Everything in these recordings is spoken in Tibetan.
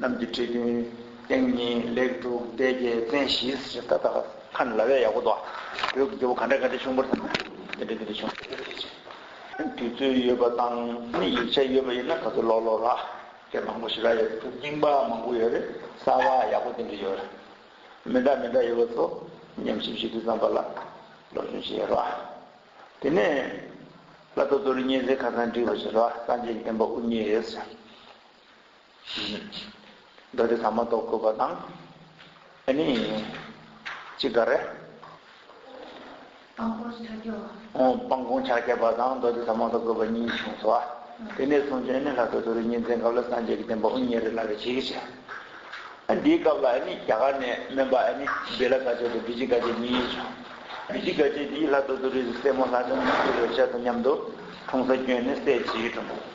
གནམ་གྱི་ཁྲི་བདུན་སྟེང་གཉིས་ལེགས་དྲུག་སྡེ་བརྒྱད་བཙན་བཞི་ཞེས་ད་ལྟ་ཁ་ན་ལ་བས་ཡག་པོ་འདུག་ཨ། བོད་ཀྱི་རྒྱལ་པོ་ག་འདྲ་ག་འདྲ་བྱུང་བར་ཐལ། དེ་འདྲ་དེ་འདྲ་བྱུང་བར་ཐལ་ཞེས་བྱ། དུས་ཚོད་ཡོད་པ་དང་ནི་ཡིག་ཆ་ཡོད་པ་ཡིན་ན་ད་ཚོད་ཀློག་ཀློག་ར། སྐད་མང་པོ་ཞིག་ར་ཡོད་དྲུག་རྙིང་པ་མང་པོ་ཡོད་རེད་གསར་བ་ཡག་པོ་དེ་འདྲ་ཡོད་རེད། མི་འདྲ་མི་འདྲ་ཡོད་པ་ཚོ་ཉམས་ཞིབ་བྱེད་དུས་ཙམ་པ་ལ་སློབ་སྦྱོང་བྱེད་ཡོད་ར། དེ་ནས་བླ་རྡོ་རྡོ་རི་གཉན་གཟིགས་ཁ་སང་བསྒྲིགས་པ་བྱེད་ར་སངས་རྒྱས་ཀྱི་བསྟན་པ་དབུ་བརྙེས་ཞེས་བྱ། བདག་གིས་ད་མ་གཏོགས་དགོས་པ་དང། ཨེ་ནི། ཅི་དགའ་རེ། སྤང་གོང་ཕྱག་རྒྱ་བ། སྤང་གོང་ཕྱག་རྒྱ་བ་དང་བདག་གིས་ད་མ་གཏོགས་དགོས་པ་གཉིས་བྱུང་སོ། དེ་ནས་བཟུང་ཅི་ཨེ་ནི་ལྷ་ཐོ་ཐོ་རུ་གཉིས་འཛིན་སྐབས་ལ་སངས་རྒྱས་ཀྱི་བསྟན་པ་དབུ་བརྙེས་རེ་ལ་རེ་བྱེད་ཀྱི་ཆེ། འདིའི་སྐབས་ལ་ཨེ་ནི་རྒྱ་གར་ནས་སྨན་པ་ཨེ་ནི་བི་ལ་ག་ཆད་དང་བི་ཇི་ག་ཆད་གཉིས་ཡོད་བྱུང། བི་ཇི་ག་ཆད་འདིས་ལྷ་ཐོ་ཐོ་རུའི་སྲས་མོ་ལྷ་ལྡན་ནོར་བུ་རེ་བྱ་དང་མཉམ་དུ་གྲོང་ས་བསྐྱོན་ནས་སྲས་བྱིའི་གྲོང།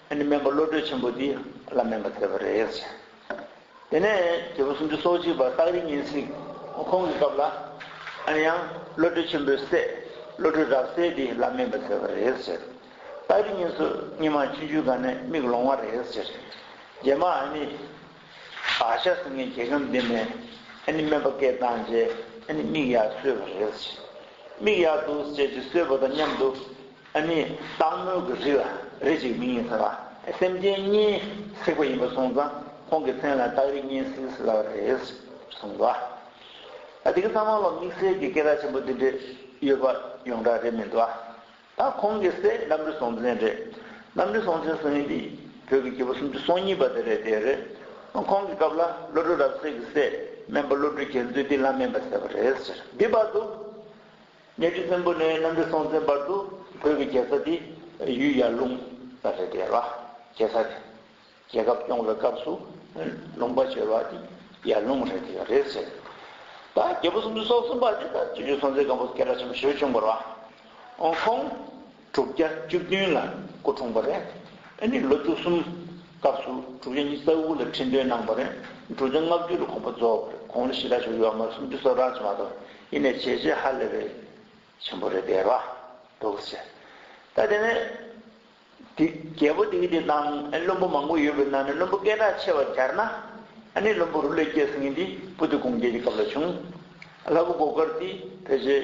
ཨ་ནི་སྨན་པ་བློ་གྲོས་ཆེན་པོ་འདི་ལ་སྨན་པ་དེ་པ་རེད་ཡག་བྱས། དེ་ནས་རྒྱལ་པོ་སུམ་ཅུ་སོ་གཅིག་པ་སྟག་རི་གཉན་སྲིན་ཁོང་གི་སྐབས་ལ་ཨ་ནི་ཡང་བློ་གྲོས་ཆེན་པོའི་སྲས་བློ་གྲོས་རབ་གསལ་འདི་ལ་སྨན་པ་དེ་པ་རེད་ཡག་བྱས། སྟག་རི་གཉན་སུ་གཉིས་མ་ཆུ་འཇུའི་སྒང་ནས་མིག་ལོང་བ་རེད་ཡག་བྱས། རྗེས་མ་ཨ་ནི་བྷ་ཤ་སི་ངའི་རྒྱལ་ཁམས་འདི་ནས་ཨ་ནི་སྨན་པ་སྐད་བཏང་རྗེས་ཨ་ནི་མིག་ཡག་གསོས་པ་རེད་ཡག་བྱས། མིག་ཡག་འདུག་ཅེས་ཀྱི་གསོས་པ་དང་མཉམ་དུ་ཨ་ནི། སྟག་མོ་གི་རི་ལ་རི་ཞིག་མིང་ཡིན་ཟེར་བ་དེ་སེམས་ཅན་གཉིས་བསྲེགས་པ་ཡིན་པར་གསུངས་ཙང་ཁོང་གི་མཚན་ལ་སྟག་རི་གཉིས་བསྲེགས་ཟེར་བ་རེད་གསུངས་ལ། དེ་གི་ཚང་མ་ལ་དམིགས་བསལ་གྱི་སྐད་བརྡ་ཆེན་པོ་འདི་འདྲས་ཡོད་པ་ཡོངས་གྲགས་རེད་མི་འདུག་ཨ། ད་ཁོང་གི་སྲས་རྣམ་རི་སྲོང་བཙན་རེད། རྣམ་རི་སྲོང་བཙན་སྲིད་ཡུན་འདི་བོད་ཀྱི་རྒྱལ་པོ་སུམ་ཅུ་སོ་གཉིས་པ་དེ་རེད་དེ་རེད། ཁོང་གི་སྐབས་ལ་བློ་གྲོས་རབ་གསལ་གྱི་སྲས་སྨན་པ་བློ་གྲོས་རྒྱལ་མཚོས་འདི་ལ་སྨན་པ་ཟེར་བ་རེད་ཟེར་བསྡད་པ་འདུག། གནས་ཁྲི་བཙན་པོ་ནས་གནམ་རི་སྲོང་བཙན་བར་དུ་བོད་ཀྱི་རྒྱལ་ས་དེ་ཡུལ་ཡར་ཀླུང་ལ་རེད་དེ་ལ་རྒྱལ་ས་རེད། རྒྱལ་ཁབ་སྐྱོང་བའི་སྐབས་སུ་ལུང་པ་བྱོལ་བ་དེ་ཡར་ཀླུང་རེད་དེ་རེད་ཟེར། ད་རྒྱལ་པོ་སུམ་ཅུ་སོ་གསུམ་པ་དེ་ད་སྤྱི་འཐུས་སྲོང་བཙན་སྒམ་པོ་སྐལ་བྲག་ཆེན་པོ་ཞེས་བྱུང་བར་བ། ཁོང། དྲུག་བརྒྱ་བཅུ་བདུན་ལ་སྐུ་འཁྲུངས་པ་རེད། ཨ་ནི་ལོ་བཅུ་གསུམ་སྐབས་སུ་དྲུག་བརྒྱ་ཉིས་བརྩེགས་དགུ་ལ་ཁྲི་འདོན་གནང་བ་རེད། དྲུག་བརྒྱ་ལྔ་བཅུ་ལ་གོང་པ་རྫོགས་པ་རེད་གོང་ལ་ཞི་རག་ཞུ་ཡོད་མ་སུམ་ཅུ་སོ་རག་ཅེས་མ་གཏོགས་ཡེ་ནས་བྱས་རྗེས་ཧ་ལས་པའི་ཆེན་པོ་རེད་པས་བ་དོག་གིས་བྱས། ད་དེ་ནས་དེ་རྒྱལ་པོ་དེའི་དེ་དང་ཨ་ནི་བློན་པོ་མང་པོ་ཡོད་པའི་ནང་ནས་བློན་པོ་སྐད་གྲགས་ཆེ་བ་རྒྱར་ན་ཨ་ནི་བློན་པོ་རུ་ལས་སྐྱེས་སངས་ཏི་པུ་ཏི་དགུང་རྒྱལ་གྱི་སྐབས་ལ་བྱུང། ལྷ་བུ་སྒོ་དཀར་ཏི་བེ་རྗེ།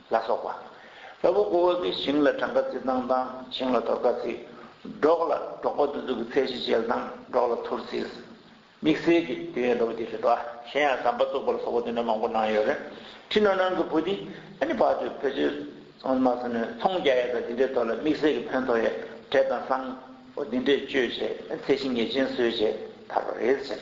ལ་སོགས་པ། ལྷ་བུ་ཀོ་བ་ཀིའི་ཞིང་ལ་གྲངས་ཀ་ཚིག་དང་དང་ཞིང་ལ་དོར་ཀ་ཚིག། འབྲོག་ལ་འབྲོག་པ་འདུ་འཛུགས་ཀྱི་ཚད་གཞི་ཅལ་དང་འབྲོག་ལ་ཐུར་ཚིགས། དམིགས་བསལ་གྱི་དུས་ཡུན་ལོ་བརྒྱ་རེད་དོ། གཞན་ཡང་ཟམ་པ་བཙུགས་པ་ལ་སོགས་པ་དུས་ནས་མང་པོ་གནང་ཡོད་རེད། ཁྲི་ནོར་ནང་གི་བུ་འདི་ཨ་ནི་བག་ཆུ་བེ་ཆུ། ཚོང་མ་སོ་ནི་ཚོང་རྒྱག་ཡས་དང་འདི་འདྲའི་ཐོག་ལ་དམིགས་བསལ་གྱི་ཕན་ཐོགས་ཡས་གྲས་དང་སང་བོ་འདི་འདྲས་བཅོས་བྱས་ཚད་གཞི་ངེས་ཅན་བཟོས་བྱས་དར་བ་རེད་ཟེར།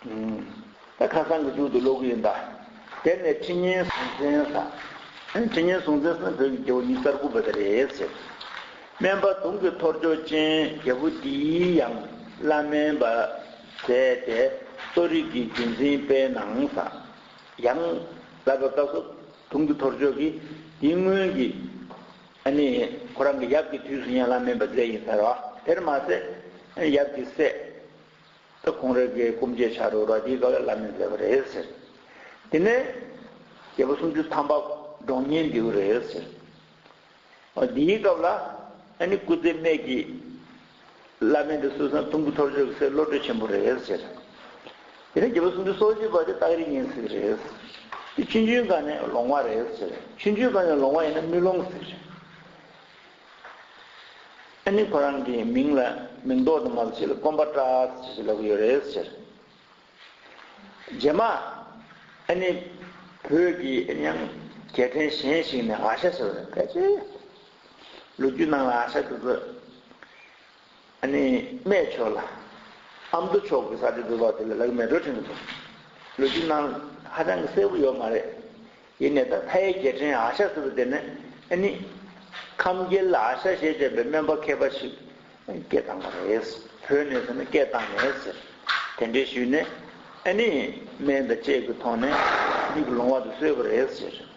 ད་ཁ་སང་གི་མཇུག་ཏུ་ཀློག་གི་ཡིན་ད། དེ་ནས་ཁྲི་སྙན་སྲུང་བཙན་ས། ཁྲི་སྙན་སྲུང་བཙན་སོགས་བོད་ཀྱི་རྒྱལ་བོ་ཉི་ཙར་དགུ་པ་དེ་རེད་ཟེར། སྨན་པ་དུང་གི་ཐོར་ཅོག་ཅན་རྒྱལ་བོ་འདིའི་ཡང་བླ་སྨན་པ་མཛད་དེ་གསོ་རིག་གི་རྒྱུན་འཛིན་སྤེལ་གནང་ས། ཡང་བསླབ་པའི་སྐབས་སུ་དུང་གི་ཐོར་ཅོག་གིས་འདི་སྔོན་གྱི། ཨ་ནི་ཁོ་རང་གི་ཡབ་ཀྱི་དུས་སུ་ཡང་བླ་སྨན་པ་མཛད་ཡིན་ཟེར་བ་དེར་མ་ཟད། ཡབ་ཀྱི་སྲས། ད་གུང་རེ་འགའི་སྐུ་མཆེད་བྱ་རུ་ར་ཁྱིའི་དགའ་བའི་བླ་མས་མཛད་པ་རེད་ཟེར། དེ་ནས། རྒྱལ་པོ་སུམ་ཅུ་ཐམ་པ་འབྲོང་གཉེན་འདེའུ་རེད་ཟེར། འདིའི་སྐབས་ལ། ཨ་ནི་སྐུ་ཚེ་སྨད་ཀྱི། བླ་མས་འདི་སྲོལ་བཟང་ཐུམ་གུ་ཐོར་ཅོག་གི་སྲས་བློ་གྲོས་ཆེན་པོ་རེད་ཟེར། དེ་ནས་རྒྱལ་པོ་སུམ་ཅུ་སོ་བཞི་པ་དེ་སྟག་རི་གཉན་སྲིད་རེད་ཟེར། དེ་ཆུན་ཆུན་སྒང་ནས་ལོང་བ་རེད་ཟེར། ཆུན་ཆུན་སྒང་ནས་ལོང་བ་ཡིན་ན་མི་ལོང་ཟེར། ཨ་ནི་ཁོ་རང་གི་མིང་ལ་མིང་འདོགས་དུ་མ་ལ་ཕྱི་ལ་སྐོམ་པ་བཀྲ་ཟེར་ཞེས་ལབ་ཀྱི་ཡོད་རེད་ཟེར། རྗེས་མ། ཨ་ནི། བོད་ཀྱི་ཨེ་མྱང། རྒྱལ་ཕྲན་གཞན་ཞིག་ནས་ཨ་ཤ་ཟེར་བ་ནི་ཕལ་ཆེར། ལོ་རྒྱུས་ནང་ལ་ཨ་ཤ་འདུག་གི། ནི། སྨྲས་ཆོག་ལ། ཨ་མདོ་ཕྱོགས་ཀྱི་ས་ཆ་དུ་བ་དེ་ལ་ལག་མེ་རུ་ཁྲིམས་འདུག། ལོ་རྒྱུས་ནང་ཧ་ཅང་གི་གསལ་བོ་ཡོད་མ་རེད། ཡིན་ནས་ད་ཕ་ཡི་རྒྱལ་ཕྲན་ཨ་ཤ་ཟེར་བ་དེ་ནི། ནི། ཁམས་རྒྱལ་ཨ་ཤ་ཞེས་བྱ་བའི་སྨན་པ་མཁས་པ་ཞིག་སྐད་བཏང་བ་རེད། བོད་ནས་ཟེར་ན་སྐད་བཏང་མེད་ཟེར། དེ་འདྲའི་ཞུས་ནས། ནི། སྨན་དང་དཔྱད་ཀྱི་ཐོག་ནས། མིག་ལོང་བ་དུ་གསོས་པ་རེད་ཟེར།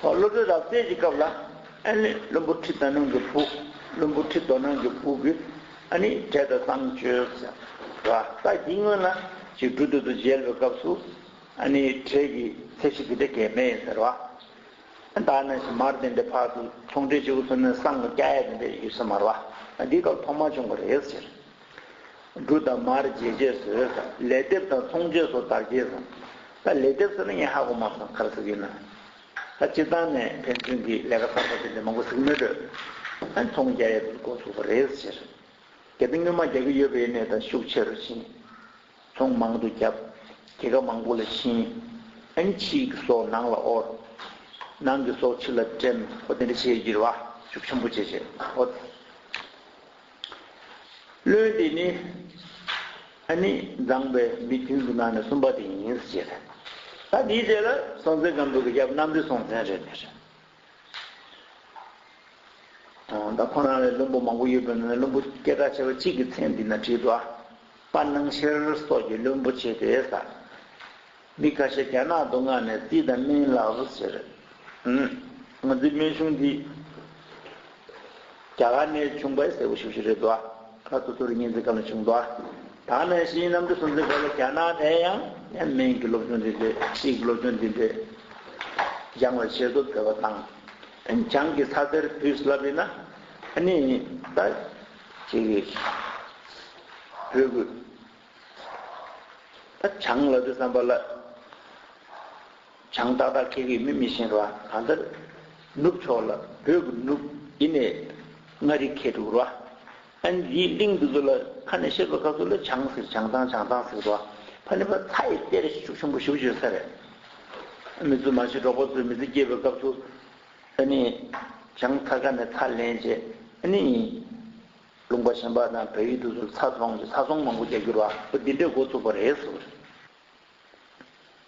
བློ་གྲོས་རབ་རྩལ་གྱི་སྐབས་ལ་ཨན་ལི་བློན་པོ་ཁྲི་དོ་ནང་གི་བུ་བློན་པོ་ཁྲི་དོ་ནང་གི་བུ་གི་ཨ་ནི་གྲལ་དུ་བཏང་བཅོས་བྱ་བ་ལྟ་འདི་སྔོན་ལ་ཅིག་སྦྲུལ་དུད་དུ་འཇལ་བའི་སྐབས་སུ་ཨ་ནི་གྲལ་གྱི་ཚད་གཞི་འདི་འདྲ་གས་མེད་ཡིན་ཟེར་བ། ཨན་ད་ནས་བཞིན་མར་དེ་འདྲའི་བར་དུ་ཚོང་འབྲེལ་བྱེད་དགོས་ཚོད་མེད་སང་ངོ་སྐྱ་ཡས་དེ་འདྲའི་ཡོད་ས་མ་ར་བ་ཨ་འདིའི་སྐབས་ཐོག་མ་བྱུང་བ་རེད་ཟེར། འབྲུ་དང་མར་རྗེས་བཅད་ཟོས། ལས་སྡེབ་དང་ཚོང་བཅོས་སོགས་དར་རྒྱས་བཟང། ལས་སྡེབ་ཟེར་ན་ངས་ཧ་གོ་མ་སོང་ག་རེ་ཟེར་གྱི་ཡིན་ནམ། སྤྱིར་བཏང་ནས་ཕན་ཚུན་གྱི་ལས་ཀ་གསར་པ་དེ་འདྲ་མང་པོ་གཟིགས་མོད་དྲོད་ཚོང་རྒྱ་ཡལ་དུ་འགོ་ཚུགས་པ་རེད་ཟེར། གལ་ཏེ་སྔོན་མ་རྒྱག་གི་ཡོད་པའི་གནས་དང་ཤུགས་ཆེ་རུ་ཕྱིན། ཚོང་མང་དུ་བརྒྱབ། སྐྱེད་ཀ་མང་པོ་ལ་བྱིན། ཨན་ཕྱི་གི་སོ་ནང་ལ་དབོར། ནང་གི་སོ་ཕྱི་ལ་འདྲེན། ཧོ་དེ་འདྲ་བྱེད་ཀྱི་རེད་བ། ཤུགས་ཆེན་པོ་བྱེད་བྱེད། ཨོ། བློན་དེ་ནི། ཨ་ནི་མཛངས་པའི་མི་བདུན་གྱི་ནང་ནས་གསུམ་པ་དེ་ཡིན་ཟེར་གྱི་རེད། ད་དེའི་རྗེས་ལ་སྲོང་བཙན་སྒམ་པོས་གི་རྒྱབ་གནམ་རི་སྲོང་བཙན་རེད་མི་རེད། ད་ཁོ་རང་ལས་བློན་པོ་མང་པོ་ཡོད་པའི་ནང་ནས་བློན་པོ་སྐད་གྲགས་ཆེ་བ་གཅིག་གི་མཚན་འདི་ན་བྲིས་འདུག་ཨ། དཔའ་སྣང་ཤེར་སོགས་ཀྱི་བློན་པོ་བྱས་ཏེ་ཟ། མི་ཁ་ཤས་རྒྱ་ནག་ཏུ་མངགས་ནས་ཙི་དང་མིན་ལགས་སུ་ཟེར། ང་ཚོའི་སྨན་གཞུང་འདི་རྒྱ་གར་ནས་བྱུང་པས་གསལ་བོ་ཞུ་བཞིན་རེད་དོ། ཁ་ཐུ་ཐུ་རི་གཉིས་འཛིན་སྐབས་ནས་བྱུང་དོ། ད་ནངས་བཞིན་གནམ་གྲུ་སུམ་བརྩེགས་བར་ལ་རྒྱ་ནག་ནས་ཡང་ཡང་མིན་གྱི་སློབ་སྦྱོང་འདི་འདྲའི་ཕྱིས་ཀྱི་སློབ་སྦྱོང་འདི་འདྲའི་སྦྱང་བའི་བྱེད་སྒོ་སྤེལ་བ་དང། བྱང་གི་ས་དེར་དུས་སླ་བས་ན་ནི་ད་ཅིག་བོད་ཀྱི། བྱང་ལ་དུ་བསམ་པ་ལ། བྱང་ཏག་ཏག་ཁེག་ཁེག་མི་མི་ཤེས་ར་གང་ལྟར། ནུབ་ཕྱོགས་ལ་བོད་ཀྱི་ནུབ་ཡེ་ནས་མངའ་རིས་ཁེ་དུག་ར། ཨན་ལིའི་གླིང་འདི་ཚོ་ལ་ཁ་ནས་བཤད་པ་སྐབས་སུ་ལ་བྱང་ཟེར་བྱང་ཐང་བྱང་ཐང་ཟེར་ར། ཕ་ནི་ཕ་ཚ་ཡི་གཏེར་ཤུགས་ཆེན་པོ་ཞིག་བརྗོད་ས་རེད། མི་ཚོ་མ་ཤི་གྲོགས་པོ་ཚོས་མི་ཚེ་སྐྱེལ་བའི་སྐབས་སུ། ཨན་ནི་བྱང་ཐག་ཁ་ནས་ཚ་ལེན་བྱེད་ཨན་ནི། ལུང་པ་གཞན་པ་དང་བོད་ཡུལ་དུ་ཚ་རྫོང་གིས་ཚ་ཟོང་མང་པོ་རྒྱག་རྒྱུར་བ་སྤུ་འདི་འདྲས་འགོ་བཙུགས་པ་རེད།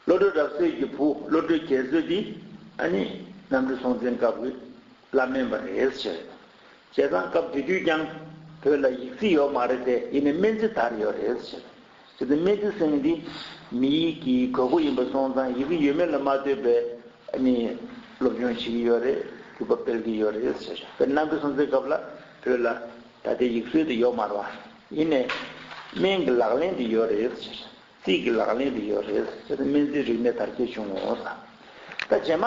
བློ་གྲོས་རབ་གསལ་གྱི་བུ་བློ་གྲོས་རྒྱལ་མཚོས་དེ་ནི་གནམ་གྲུ་སྲོང་བཙན་སྐབས་ཀྱི་བླ་སྨན་པ་རེད་ཟེར། བྱས་ཙང་སྐབས་དེ་དུས་ཀྱང་བོད་ལ་ཡིག་རྩིས་ཡོད་མ་རེད་དེ་ཡིན་ནས་སྨན་རྩིས་དར་ཡོད་རེད་ཟེར། ཟེར་ཏེ་སྨྲས་ཏེ་གསེང་འདི་མི་ཡིག་གི་གོ་དགུ་ཡིན་པ་སོང་ཙང་ཡི་གེ་ཡོད་མེད་ལ་མ་ལྟོས་པའི་ནི་སློབ་སྦྱོང་བྱེད་ཀྱི་ཡོད་རེད་གུས་པ་སྤེལ་གྱི་ཡོད་རེད་ཟེར། དཔེར་ན་ཁོས་སོང་ཙེའི་སྐབས་ལ་བོད་ལ་ད་ལྟའི་ཡིག་སྲོལ་དེ་ཡོག་མར་བ་ཡིན་ནས། སྨན་གྱི་ལག་ལེན་དེ་ཡོད་རེད་ཟེར། རྩིས་ཀྱི་ལག་ལེན་དེ་ཡོད་རེད་ཟེར་ཏེ་སྨན་རྩིས་རིག་གནས་དར་རྒྱས་བྱུང་ངོ། ད་རྗེས་མ།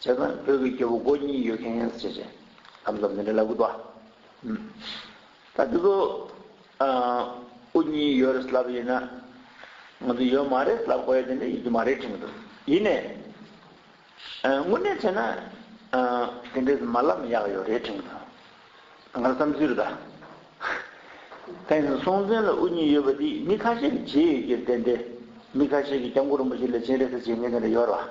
བྱས་ཙང་བོད་ཀྱི་སྐྱེ་བོ་མགོ་གཉིས་ཡོད་མཁན་ཡིན་ཟེར་བྱས། ཨ་མདོ་མི་འདྲ་ལ་ཨུཏྤ། ད་འདི་ཚོ་ཨུ་གཉིས་ཡོད་རེད་ལབ་ཡིན་ན། ང་ཚོ་ཡོད་མ་རེད་ལབ་དགོས་ཡོད་དེ་འདྲ་ཡོད་ཀྱི་མ་རེད་དྲན་གྱི་འདུག་ཡིན་ནས། དངོས་གནས་བྱས་ན་དེ་འདྲའི་མ་ལབ་ན་ཡག་ཡོད་རེད་དྲན་གྱི་འདུག་ང་རང་བསམ་ཚུལ་རེད་ད། ད་ཡིན་ན་སྲོང་བཙན་ལ་ཨུ་གཉིས་ཡོད་པ་འདི་མི་ཁ་ཤས་ཀྱི་བྱས་ཡོད་རྒྱུར་བརྟེན་ཏེ། མི་ཁ་ཤས་ཀྱིས་སྐྱབས་མགོན་རིན་པོ་ཆེ་ལས་བྱིན་རེ་ཟ་བྱེད་མཁན་དེ་འདྲ་ཡོད་རེད་བ།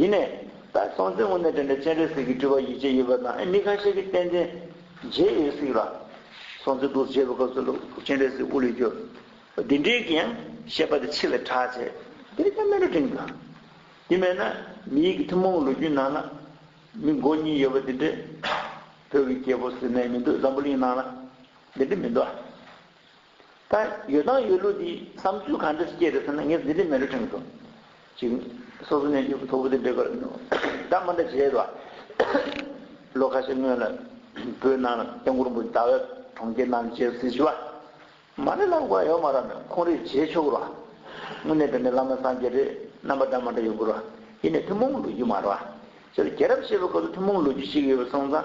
ཡིན་ནས། ད་གཟོང་མཛད་སྔོན་ནས་དྲན་པའི་སྤྱན་རས་གཟིགས་ཀྱི་སྤྲུལ་པ་ཡིད་ཆེས་ཡོད་པ་དང་མི་ཁ་ཤས་ཀྱིས་བསྟན་འཛིན། མཇལ་ཡོད་སྲིད་ལ། སོང་ཚེ་འདུག་མཇལ་བའི་སྐབས་སུ་ལུག་སྤྱན་རས་གཟིགས་དབུ་ལས་བསྐྱོད། འདི་འདྲའི་གི་ཡང་བཤད་པ་དེ་འཆི་བའི་གྲགས་ཆེ། འདིར་ཀྱང་སྨད་ལུགས་དྲན་གྱི་དགོས། དེ་མེད་ན། མི་ཡི་གི་ཐུན་མོང་ལོ་རྒྱུས་ནང་ན། མི་མགོ་གཉིས་ཡོད་པ་འདི་འདྲའི། བོད་ཀྱི་རྒྱལ་པོ་ཟེར་ནའི་མི་འདུག་འཛམ་བུ་གླིང་ནང་ན། འདི་འདྲའི་མི་འདུག་ཨ། ད་ཡོད་དང་ཡོད་ལུགས་འདིས་བསམ་ཚུལ་ག་འདྲ་ཞིག་སྐྱེས་རེད་ཟེར་ན་ངས་འདི་འདྲའི་མེ་རོ་ཕྲེང་སོ། སོ་སོ་ནས་འཇུག་ཐོ་བུ་དེ་འབེབས་པར་སྒྲ་མ་འདྲ་བྱས་ལ། ལོ་ཁ་ཤས་སྔོན་ལ་བོད་ནང་སྐྱབས་མགོན་པོ་ཟླ་བས་གྲོང་ཁྱེར་ནང་རྗེ་བཙུན་ཞི་བ་མ་ལེ་ལགས་བཀའ་ཡོད་མ་རབས་ནས་ཁོང་རིག་བྱེད་ཆོག་ར། དངོས་གནས་བོད་མི་བླ་མ་སངས་རྒྱས་རེད་རྣམ་པ་འདྲ་མ་འདྲ་ཡོད་དགོས་ར། ཡེ་ནས་ཐུན་མོང་ལོ་རྒྱུས་མ་ར། སྤྱིར་རྒྱལ་རབས་ཞེས་པ་ག་ཚོད་ཐུན་མོང་ལོ་རྒྱུས་ཤིག་ཡོད་པ་སོང་ཙང།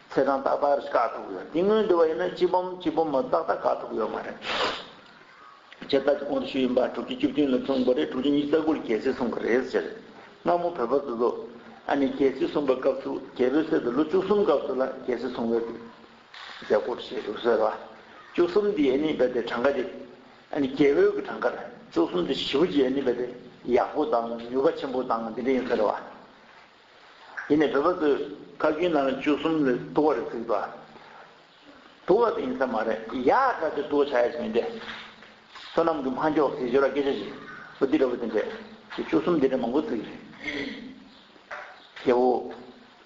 ཚེ་གང་ཏག་ཏག་རེད་དཀའ་ཐུབ་ཡོད་དེ་སྔོན་འདི་བ་ཡིན་ན་སྤྱི་སྦོམ་སྤྱི་སྦོམ་མ་ཏག་ཏག་དཀའ་ཐུབ་ཡོད་མ་རེད། ཁྱེད་ལྟ་ཅི་གོང་དུ་ཞུས་ཡིན་པ་དྲུག་ཅུ་བཅུ་བདུན་ལ་བཙོང་པ་རེད་དྲུག་ཅུ་གཉིས་རྩ་དགུ་ལ་རྒྱལ་སྲིད་གསུངས་པ་རེད་ཟེར། སྔ་མོ་བོད་པ་ཚོ་ཚོ། ཨ་ནི་རྒྱལ་སྲིད་གསུངས་པ་སྐབས་སུ་རྒྱལ་པོའི་སྲས་དེ་ལོ་བཅུ་གསུམ་སྐབས་སུ་ལ་རྒྱལ་སྲིད་གསུངས་པའི་མཛད་སྒོ་རུ་བྱས་འདུག་ཟེར། བཅུ་གསུམ་དེ་ཨ་ནི་རྦད་དེ་གྲངས་ཀ་དེ། ཨ་ནི་རྒྱལ་པོའི་གི་གྲངས་ཀ་རེད་བཅུ་གསུམ་དེ་བཞི་པོ་ཅིག་ཨ་ནི་རྦད་དེ་ཡག་པོ་དང་མྱུར་བ་ཆེན་པོ་དང་དེ་འདྲ་ཡིན་ཟེར། དེ་ནས་བོད་པ་ཚོས་ཁ་རྒྱུན་ནང་བཅུ་གསུམ་ལས་ལྟོ་བ་རེ་ཚིག་པ། དུ་བ་དེ་ཡིན་ས་མ་རེད་ཡག་དྲག་ཆེ་དུ་བ་བྱ་ཡ་ཞིག་མིན་ཏེ། བསོད་ནམས་ཀྱི་མ་འགྱོགས་ཟེར་ཞོར་ལ་སྐད་ཆ་ཞིག་བུ་འདི་འདྲ་བུ་དེ་འདྲ་ཞེས་བཅུ་གསུམ་འདི་འདྲ་མང་པོ་ཚིག་རེད། སྐྱེ་བོ་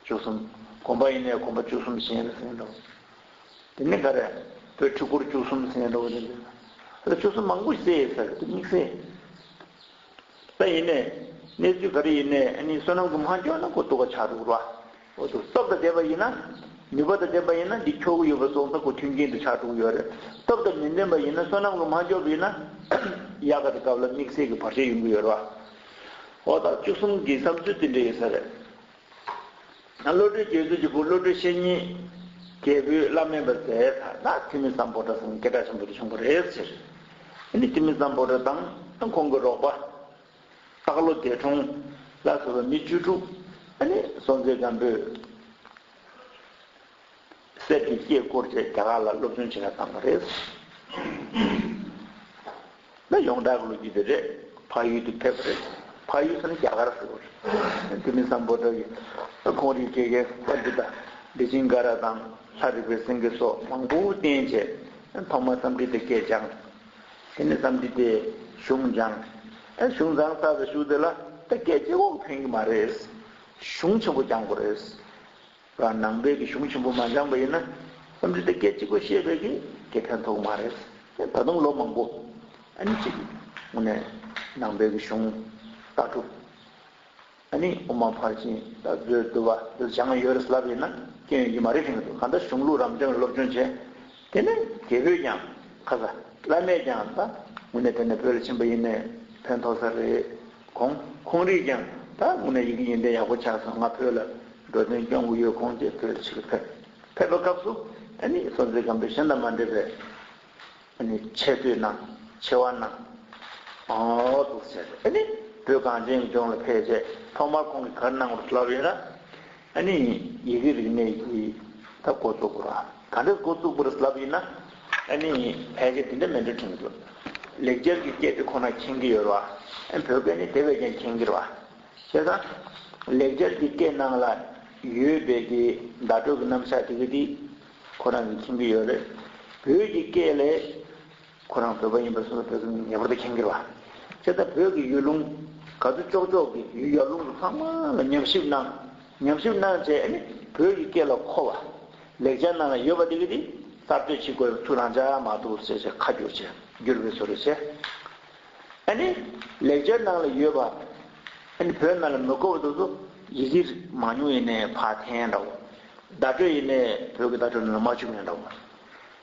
བཅུ་གསུམ་གོམ་པ་ཡིན་ནའི་གོམ་པ་བཅུ་གསུམ་གཞན་རེ་ཟེར་འདྲ་བོ། དེ་ནི་ག་རེད་བོད་ཕྲུ་གུར་བཅུ་གསུམ་ཟེར་འདྲ་བོ་དེ་འདྲ། ལ་བཅུ་གསུམ་མང་པོ་ཞིག་བསྲེས་ཡོད་ས་རེད་དེ་དམིགས་བསལ། ད་ཡིན་ནའི། གནས་ཚུལ་ག་རེ་ཡིན་ནའི་ཨ་ནི་བསོད་ནམས་ཀྱི་མ་འཇོག་ན་གོ་ཐུག་ག་ཆག་འདུག་ར་འོ་དུག་སྟོབས་དང་ལྡན་པ་ཡིན་ན། ནུས་པ་དང་ལྡན་པ་ཡིན་ན་འདི་ཁྱོ་གུ་ཡོད་པ་སོགས་ད་གོ་ཐུག་གྱིན་དུ་ཆག་འདུག་ཡོད་རེད་སྟོབས་དང་མི་ལྡན་པ་ཡིན་ན་བསོད་ནམས་ཀྱི་མ་འཇོག་པ་ཡིན་ན། ཡག་ག་དེ་སྐབས་ལ་དམིགས་བསལ་གྱི་བར་ཆད་ཡོང་གི་ཡོད་ར་འོ་ད་བཅུ་གསུམ་གྱི་བསམ་ཚུལ་དེ་འདྲ་ཡོད་ས་རེད། བློ་གྲོས་རྒྱས་ཚུལ་གྱི་བུ་བློ་གྲོས་བཤེས་གཉེན། རྒྱལ་པོས་བླ་སྨན་པར་མཛད་ད་ད་ཐིམ་མི་ཙམ་པོ་ཏྲ་སེང་གེ་སྒྲ་ཆེན་པོ་དེ་བྱུང་བ་རེད་ཟེར། དེ་ནས་ཐིམ་མི་ཙམ་པོ་ཏྲ་དང་ཁོང་གི་རོགས་པ། སྟག་ལོ་སྡེ་གྲོང། ལ་ཟེར་བ་མི་བཅུ་དྲུག། སོང་ཚེ་སྒམ་པོས། གསེར་གྱི་སྐྱེས་བསྐོར་བཅས་རྒྱ་གར་ལ་སློབ་སྦྱོང་བྱེད་ན་བཏང་བ་རེད། ད་ཡོངས་གྲགས་ཀྱི་ལོ་རྒྱུས་དེ་རེད། ཕ་ཡུལ་དུ་ཕེབས་པ་རེད། ཕ་ཡུལ་ཟེར་ན་རྒྱ་གར་ཟེར་བ་རེད། དེ་མིན་སམ་བོད་དག་གིས་ཁོང་རིག་སྐྱེས་རྒན་པ་འདི་དང་བདེ་ཆེན་སྒ་ར་དང་ལྷ་རིག་པའི་སེང་གེ་སོགས་མང་པོ་བསྟེན་བྱས། ཐོག་མར་བསམ་འགྲིལ་དེ་སྐད་སྦྱངས། དེ་ནས་བསམ་འགྲིལ་དེ་གཞུང་སྦྱངས། གཞུང་བཟང་ས་དང་བཞུགས་དེ་ལ་ད་སྐད་ཅིག་འོག་ཕན་གྱི་མ་རེད། གཞུང་ཆེན་པོ་སྦྱངས་དགོས་རེད། ལ་ནང་པའི་གི་གཞུང་ཆེན་པོ་མ་སྦྱངས་པ་ཡིན་ན་བསམ་ཚུལ་དེ་སྐད་ཅིག་པོ་ཤེས་པའི་གི་དེ་ཕན་ཐོག་མ་རེད། ད་དུང་ལོ་མང་པོ་ཨ་ནི་གཅིག་ངོ་ནས་ནང་པའི་གི་གཞུང་ལྟ་གྲུབ་ཨ་ནི་དབུ་མ་ཕར་ཕྱིན་ལྟ་བཟོས་བསྡུ་བ་བསྡུ་སྦྱངས་ཡོད་རེད་ལབ་ཡིན་ན་སྐྱོན་ཡོད་ཀྱི་མ་རེད་ཁེངས་འདུག་གང་ལྟར་གཞུང་ལུགས་རང་སྐྱོང་བའི་སློབ་སྦྱོང་བྱས་དེ་ནས་རྒྱལ་པོས་ཀྱང། ཁ་ཟ། བླ་མས་ཀྱང་ད། དངོས་གནས་དེ་ནི་བོད་ལ་ཕྱིན་པ་ཡིན་ནས་ཕན་ཐོགས་ས་རེད། གོང། ཁོང་རིགས་ཀྱང། ད་དངོས་གནས་ཡི་གེ་ཡོན་ཏན་ཡག་པོ་ཆགས་སོང་ང་བོད་ལ་འགྲོ་དོན་སྐྱོང་གི་ཡོད་ཁོང་ཅེས་བོད་དུ་ཕྱིར་ཕེབས། ཕེབས་པའི་སྐབས་སུ། ཨ་ནི་སོ་མཛེས་སྒམ་པོའི་ཤ་མདའ་མ་འདྲེས་པའི། ཨ་ནི་ཆེ་བསྟོད་ན། ཆེ་བ་ན། ཨོ་ཐུགས་ཆེ། ཨ་ནི། བོད་གངས་ཅན་གྱི་ལྗོངས་ལ་ཕེབས་རྗེས་ཐོག་མར་ཁོང་གིས་གར་གནང་བར་ལབ་ཡོད་ན། ཨ་ནི་ཡི་གེའི་རིག་གནས་ཀྱི་ད་མགོ་བཙུགས་པར་ག་འདྲས་མགོ་བཙུགས་པར་ལབ་ཡིན་ན་ཨ་ནི་ཕལ་ཆེར་འདི་འདྲ་མན་འདྲ་དྲན་དགོས། ལེགས་སྦྱར་གྱི་སྐད་དེ་ཁོ་ན་མཁྱེན་གྱི་ཡོད་རོ། བོད་སྐད་ནི་དེ་བས་ཀྱང་མཁྱེན་གྱི་རོ། ཤེས་དང། ལེགས་སྦྱར་གྱི་སྐད་ནང་ལ་ཡོད་པའི་གི་བརྡ་སྤྲོད་ཀྱི་རྣམ་གཞག་དེ་གི་དེ་ཁོ་རང་གིས་མཁྱེན་གྱི་ཡོད་རེད། བོད་ཀྱི་སྐད་ལས། ཁོ་རང་བོད་པ་ཡིན་པ་སོགས་ལ་བོད་ཀྱི་མིང་ངེས་པར་དུ་མཁྱེན་གྱི་རེད། དེ་ལྟར་བོད་ཀྱི་ཡུལ་ལུང་ག་ཚོད་ཅོག་ཅོག་གི་ཡུལ་ཡར་ཀླུང་གི་ལྷག་མ་ལ་ཉམས་ཞིབ་གནང། ཉམས་ཞིབ་གནང་བྱས་ནས་བོད་ཀྱི་སྐད་ལ་མཁོ་བ། ལེགས་ཆ་རྣམས་ཡོད་པ་དེ་གི་དེ་གསར་གཏོད་བྱེད་དགོས་པའི་ཚུལ་རང་ཅག་མ་གཏོགས་བསལ་བྱས་ཁ་བསྒྱུར་བྱས་བསྒྱུར་བའི་བཟོ་རེ་བྱས། ཨ་ནི། ལེགས་ཆ་རྣམས་ལ་ཡོད་པ། ཨ་ནི་བོད་རྣམས་ལ་མི་མཁོ་བ་དེ་ཚོ་ཡི་གེ་མང་ཉུང་ཡེ་ནས་བག་འཐེན་འདྲ་བོ། བརྡ་སྤྲོད་ཡེ་ནས་བོད་ཀྱི་བརྡ་སྤྲོད་རྣམས་ལ་མ་འཕྱུགས་ཡོད་འདྲ་བོ།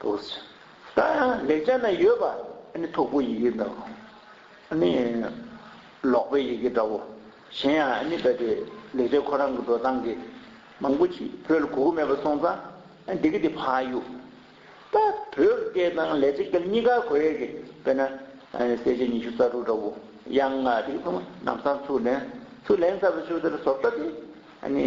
ཐུགས་རྗེ། ད་ཡང་ལེགས་སྦྱར་ན་ཡོད་པ་ནི་འཐུག་པོ་ཡི་གེ་འདྲ་བོ། ནི། ལོག་པའི་ཡི་གེ་འདྲ་བོ། གཞན་ཡང་ཨ་ནི་བས་པའི་ལེགས་སྦྱར་ཁོ་རང་གི་འགྲོ་སྟངས་ཀྱི། མང་པོ་ཅིག་བོད་ལ་གོ་གི་མེད་པ་སོང་ཙང་འདི་གི་འདི་ཕ་ཡུ། ད་བོད་སྐད་དང་ལས་ཚིག་དང་གཉིས་ཀ་གོ་ཡས་ཀྱི་བས་ན། གསལ་བྱེད་ཉི་ཤུ་རྩ་དྲུག་འདྲ་བོ། ཡང་ན་འདི་གི་ཚང་མ་ནམ་སང་ཚུར་ལེན། ཚུར་ལེན་ཚར་བའི་ཆུ་དེར་ཟོབ་ལྟ་སྟེ། ནི།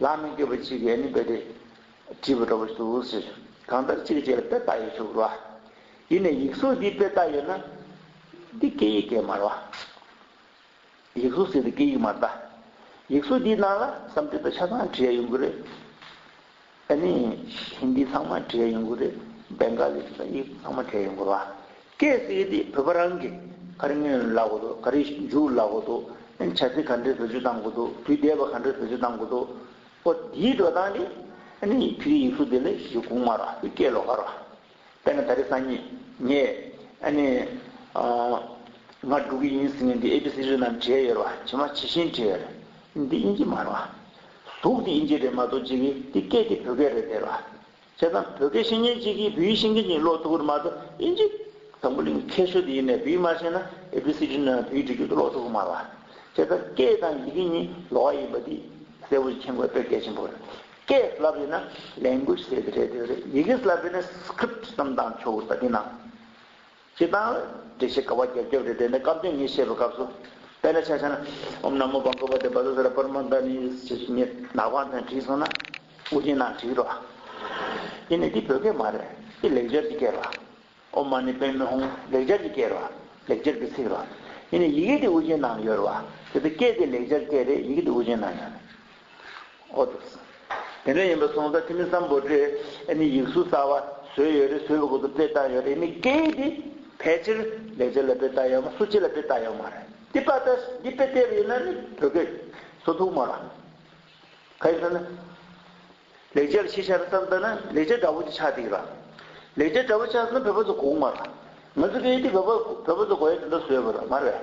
ལ་མི་དགོས་པ་ཅིག་ཡེ་ནས་འབད་དེ། བྲིས་པ་འགྲོ་བ་ཞིག་ཏུ་འུར་ཟེར། གང་ལྟར་ཅིག་བྱས་ལ་དཔེ་བལྟ་ཡོད་ཚུགས་རོགས། ཡིན་ནས་ཡིག་གཟུགས་འདིའི་དཔེ་བལྟ་ཡོད་ན། འདི་སྐད་ཡིག་གས་མར་བ། ཡིག་གཟུགས་ཟེར་དེ་སྐད་ཡིག་མར་བལྟ། ཡིག་གཟུགས་འདིའི་ནང་ལ་བསམ་གཏན་དང་ཆ་ཚང་བྲིས་ཡ་ཡོང་གི་རེད། ཨ་ནི། ཧིན་དི་ཚང་མ་བྲིས་ཡ་ཡོང་གི་རེད། སྦེན་གྷ་ལི་ཚང་མ་བྲིས་ཡ་ཡོང་གི་རེད། གལ་སྲིད་དེ་བོད་པ་རང་གི་ག་རེ་ཉོས་ལ་གོ་འདུག་ག་རེ་འཇུག་ལ་གོ་འདུག་བྱ་ཚིག་ག་འདྲས་བེད་སྤྱོད་གཏང་གོ་འདུག་དུས་བསྡད་པ་ག་འདྲས་བེད་སྤྱོད་གཏང་གོ་འདུག་པོ་དེའི་འགྲོ་སྟངས་དེ་ནི་བོད་ཡིག་གཟུགས་དེ་ལས་གཞི་གོང་མ་རོ་དེ་སྐད་ལོ་ག་རོ། དཔེར་ན་ད་རེས་སང་ཉིན་ངས་ཨ་ནི། ང་འགྲོ་གི་ཡིན་ཟེར་ནས་འདི་ཨེ་པི་སི་རི་རྣམས་བྲིས་ཡོད་རོ་ཇི་མ་ཇི་བཞིན་བྲིས་ཡོད་རེད་འདི་དབྱིན་ཇི་མ་རོ། གཟུགས་དེ་དབྱིན་ཇི་རེད་མ་གཏོགས་ཇི་གི་འདི་སྐད་དེ་བོད་སྐད་རེད་དེ་རོ། བྱས་ཙང་བོད་སྐད་ཤེས་མཁན་གཅིག་གིས་བོད་ཡིག་ཤེས་མཁན་གྱི་ལོག་ཐུག་གི་མ་གཏོགས་ཨིན་ཇི། དང་པོ་གླིང་མཁས་ཤོས་དེ་ཡིན་ནས་བོད་ཡིག་མ་ཤེས་ན་ཨེ་བྷི་སི་ཏི་རྣམས་བོད་ཡིག་འབྲི་རྒྱུ་དེ་ལོག་ཐུག་གི་མ་རེད། བྱས་ཙང་སྐད་དང་ཡི་གེ་གཉིས་ལོག་ཡིན་པ་དེ་གསལ་བོ་ཞིག་མཁྱེན་དགོས་དོན་གལ་ཆེན་པོ་རེད། སྐད་བསླབ་ཡོད་ན Language ཟེར་གྱི་རེད་དེ་རེད། ཡི་གེ་བསླབ་ཡོད་ན Script ཙམ་གདངས་ཆོག་གི་རེད་པ་དེ་ནང་ཞེས་དང། འགྲེལ་བྱེད་དགའ་བ་རྒྱ་སྐྱེགས་རེ་འདྲེན་ནས་སྐབས་དོན་ཉིད་བཤད་པའི་སྐབས་སུ། དཔེར་ན་ཕྱག་བྱ་ན། ཨོམ་ནམ་མོ་བ་འགོད་པ་སྟེ་བ་ཟ་ཟ་ར་པར་མ་མདའ་ནི། ཞེས་སུ་ཉེ། ནག་པང་དང་བྲིས་སོང་ན། དབུ་རྒྱན་ནང་བྲིས་རོ། ཡིན་ནས་འདི་བོད་སྐད་མ་རེད། འདི་ལེགས་སྦྱར་གྱི་སྐད་རོ། ཨོམ་མ་ནི་པན་མི་ཧོང་ལེགས་སྦྱར་གྱི་སྐད་རོ། ལེགས་སྦྱར་གྱི་ཚིག་རོ། ཡིན་ནས་ཡི་གེ་འདི་དབུ་རྒྱན་ནང་ཡོད་རོ། དེ་ཚོ་སྐད་དེ་ལེགས་སྦྱར་སྐད་རེད་ཡི་གེ་འདི་དབུ་རྒྱན་ནང་ཡོད་རེད། ཨོ་ཏོ། དེ་འདྲ་ཡིན་པ་སོང་ཙང་ཁྱེད་མི་བསམ་བོ་དྲེད་ཨེ་ནི་ཡིག་གཟུགས་གསར་བ་བཟོས་ཡོད་རེད་བཟོས་པའི་སྒོ་དུ་སྤེལ་བཏང་ཡོད་རེད་ཨེ་ནི་སྐད་ཡིག་འདི་ཕལ་ཆེར་ལས་བྱེད་ལ་སྤེལ་བཏང་ཡོད་མ་སུ་སྐྱེས་ལ་སྤེལ་བཏང་ཡོད་མ་རེད་འདི་པ་ཏཱ་ཞིག་འདི་སྤེལ་ཐེབས་ཡོད་ན་ནི་བོད་སྐད་བཟོ་ཐུབ་མ་རང་ག་ཡིན་ཟེར་ན། ལས་བྱེད་ལ་ཤེས་བྱ་རེད་བསམ་ཙང་ན་ལས་བྱེད་འདྲ་བོ་ཅིག་ཆགས་འདུག་རང་ལས་བྱེད་འདྲ་བོ་ཆགས་ཟིན་ན་བོད་པ་ཚོ་གོ་མ་རང་ང་ཚོ་སྐད་ཡིག་འདི་བོད་པ་བོད་པ་ཚོ་གོ་ཡ་དེ་འདྲ་བཟོས་པ་རང་མ་རེད།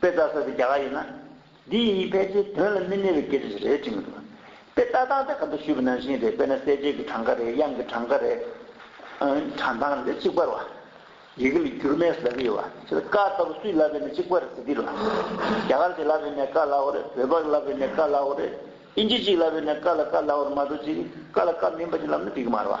དཔེ་ལྟ་ས་དེ་རྒྱ་གར་ཡིན་ན། འདི་ཡི་གཉིས་ཕལ་ཆེར་དོན་ལ་མི་གནས་པའི་སྐད་ཆ་ཞིག་རེད་བྲིས་མི་འདུག། དཔེ་ལྟ་སྟངས་དེ་ག་འདྲ་ཞུས་པ་ནང་བཞིན་རེད་དཔེར་ན་གསལ་བྱེད་ཀྱི་གྲངས་ཀ་རེ་དབྱངས་ཀྱི་གྲངས་ཀ་རེ། གྲངས་ཐང་རེ་གཅིག་པར་བ། ཡི་གེ་ལ་འགྱུར་མེད་ཟླ་བའི་བ། ཆེད་ཀ་ལྟ་བུ་སུས་བསླབས་པས་ན་གཅིག་པར་ཟི་ཏིར་བ། རྒྱ་གར་གྱིས་བསླབས་པས་ན་ཀ་བསླབས་བོ་རེད་བོད་པར་བསླབས་པས་ན་ཀ་བསླབས་བོ་རེད། དབྱིན་ཇི་གཅིག་བསླབས་པས་ན་ཀ་ལ་ཀ་བསླབས་བོར་མ་གཏོགས་ཅི་རིགས་ཀ་ལ་ཀ་མིན་པ་ཅིག་བསླབས་ན་འགྲིག་གི་མ་རེད་བ།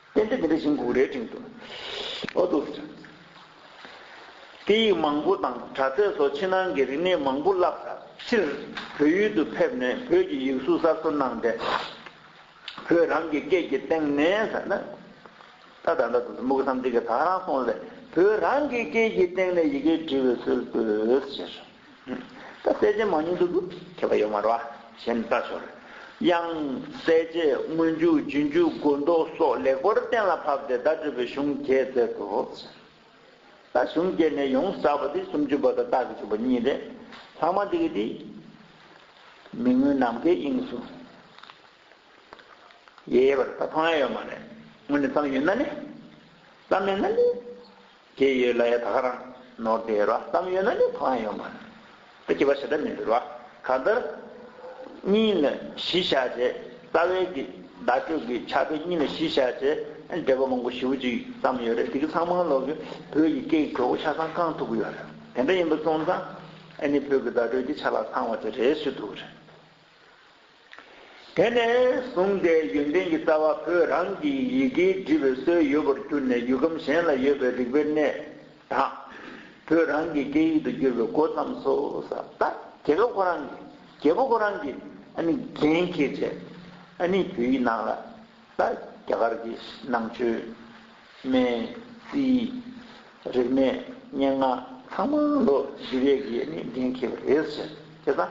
རྟེན་འབྲེལ་འདི་འདྲ་བཞིན་འགུགས་རའི་སྤྲིན་དུ། ཨོ་དུ། སྐད་ཡིག་མང་པོ་དང་དྲ་ཚད་སོགས་ཕྱི་ནང་གི་རིག་གནས་མང་པོ་བསླབས་ད་ཕྱིར་བོད་ཡུལ་དུ་ཕེབས་ནས་བོད་ཀྱི་ཡིག་གཟུགས་གསར་བཟོ་གནང་སྟེ། བོད་རང་གི་སྐད་ཀྱི་སྟེང་ནས་ཟེར་ན། ད་ད་ལྟ་དུ་མུག་བསམ་གཏིང་གི་དག་རང་སོང་སྟེ་བོད་རང་གི་སྐད་ཀྱི་སྟེང་ནས་ཡི་གེ་འབྲི་བའི་སྲོལ་བཏོད་ཟེར། ད་གསལ་བྱེད་མང་ཉུང་དུ་ཁྱད་པར་ཡོད་མ་རུང་བ་གཞན་ལྟ་ཞོར། དབྱངས་གསལ་བྱེད་སྔོན་འཇུག་རྒྱུན་འཇུག་མགོ་འདོགས་སོགས་ལེགས་པོར་གཏན་ལ་ཕབ་སྟེ་བརྡ་སྤྲོད་པའི་གཞུང་བརྒྱད་མཛད་དོ། ད་གཞུང་བརྒྱད་ནས་ཡོངས་གསག་པ་དེ་སུམ་ཅུ་པ་དང་རྟགས་ཀྱི་བཅུ་པ་གཉིས་རེད། ལྷག་མ་འདི་གི་དེ། མི་མངོན་ནམ་མཁའི་དབྱིངས་སུ། ཡེ་ཡེ་བར་ད་འཕངས་ཡས་ཡོད་མ་རེད། དངོས་ནས་བརྩམས་ཡོད་ན་ནི། བརྩམས་མེད་ན་ནི། དེ་ཡོད་ལ་ཡ་ད་ག་རང་ནོར་དེ་ཡོད་ར་གཏམ་ཡོད་ན་ནི་གང་ཡང་ཡོད་མ་རེད་དེ་སྐྱེ་བ་ཞེ་དྲག་མི་འདུག་ར་ག་འདིར། གཉིས་ནི་གཞི་བཞག་བྱས་རྩ་བའི་གི་བརྡ་སྤྲོད་གི་ཆ་དེ་གཉིས་ནི་གཞི་བཞག་བྱས་འབྲེལ་བ་མང་པོ་ཞིབ་ཅིག་ཙམ་ཡོད་རེད་དེ་གི་ཚང་མང་ལོག་གི་བོད་ཀྱི་སྐད་ཀྱི་གྲོགས་པོ་ཆ་ཚང་རྐང་ཐུག་གི་ཡོད་རེད་དེ་འདྲ་ཡིན་པ་སོང་ཙང་ཨ་ནི་བོད་ཀྱི་བརྡ་སྤྲོད་ཀྱི་ཆ་ལག་ཚང་བ་དེ་རེད་སུས་ཐུག་གི་རེད། དེ་ནས་བཟུང་སྟེ་ཡོན་ཏན་གྱི་རྩ་བ་བོད་རང་གི་ཡི་གེའི་འབྲི་བའི་སྲོལ་ཡོད་པར་གྱུར་ནས་ཡུལ་ཁམས་གཞན་ལ་ཡོད་པའི་རིག་པའི་གནས་དང། བོད་རང་གི་སྐད་ཡིག་ཏུ་བསྒྱུར་བའི་འགོ་བརྩམས་སོ། ད་རྒྱལ་པོ་ཁོ་རང་གི་རྒྱལ་པོ་ཁོ་རང་གི་རྒྱན་འཁྱེར་རྗེས། བོད་ཡིག་ནང་ལ་ད་རྒྱ་གར་གྱི་ནང་ཆོས། སྨན། རྩིས། རིག་གནས། སྙན་ངག། ཚང་མ་ལོ་བཞི་བརྒྱད་ཀྱི་ཡས་མས་འདྲེན་ཁེལ་བ་རེད་ཟེར། དེ་ཚ།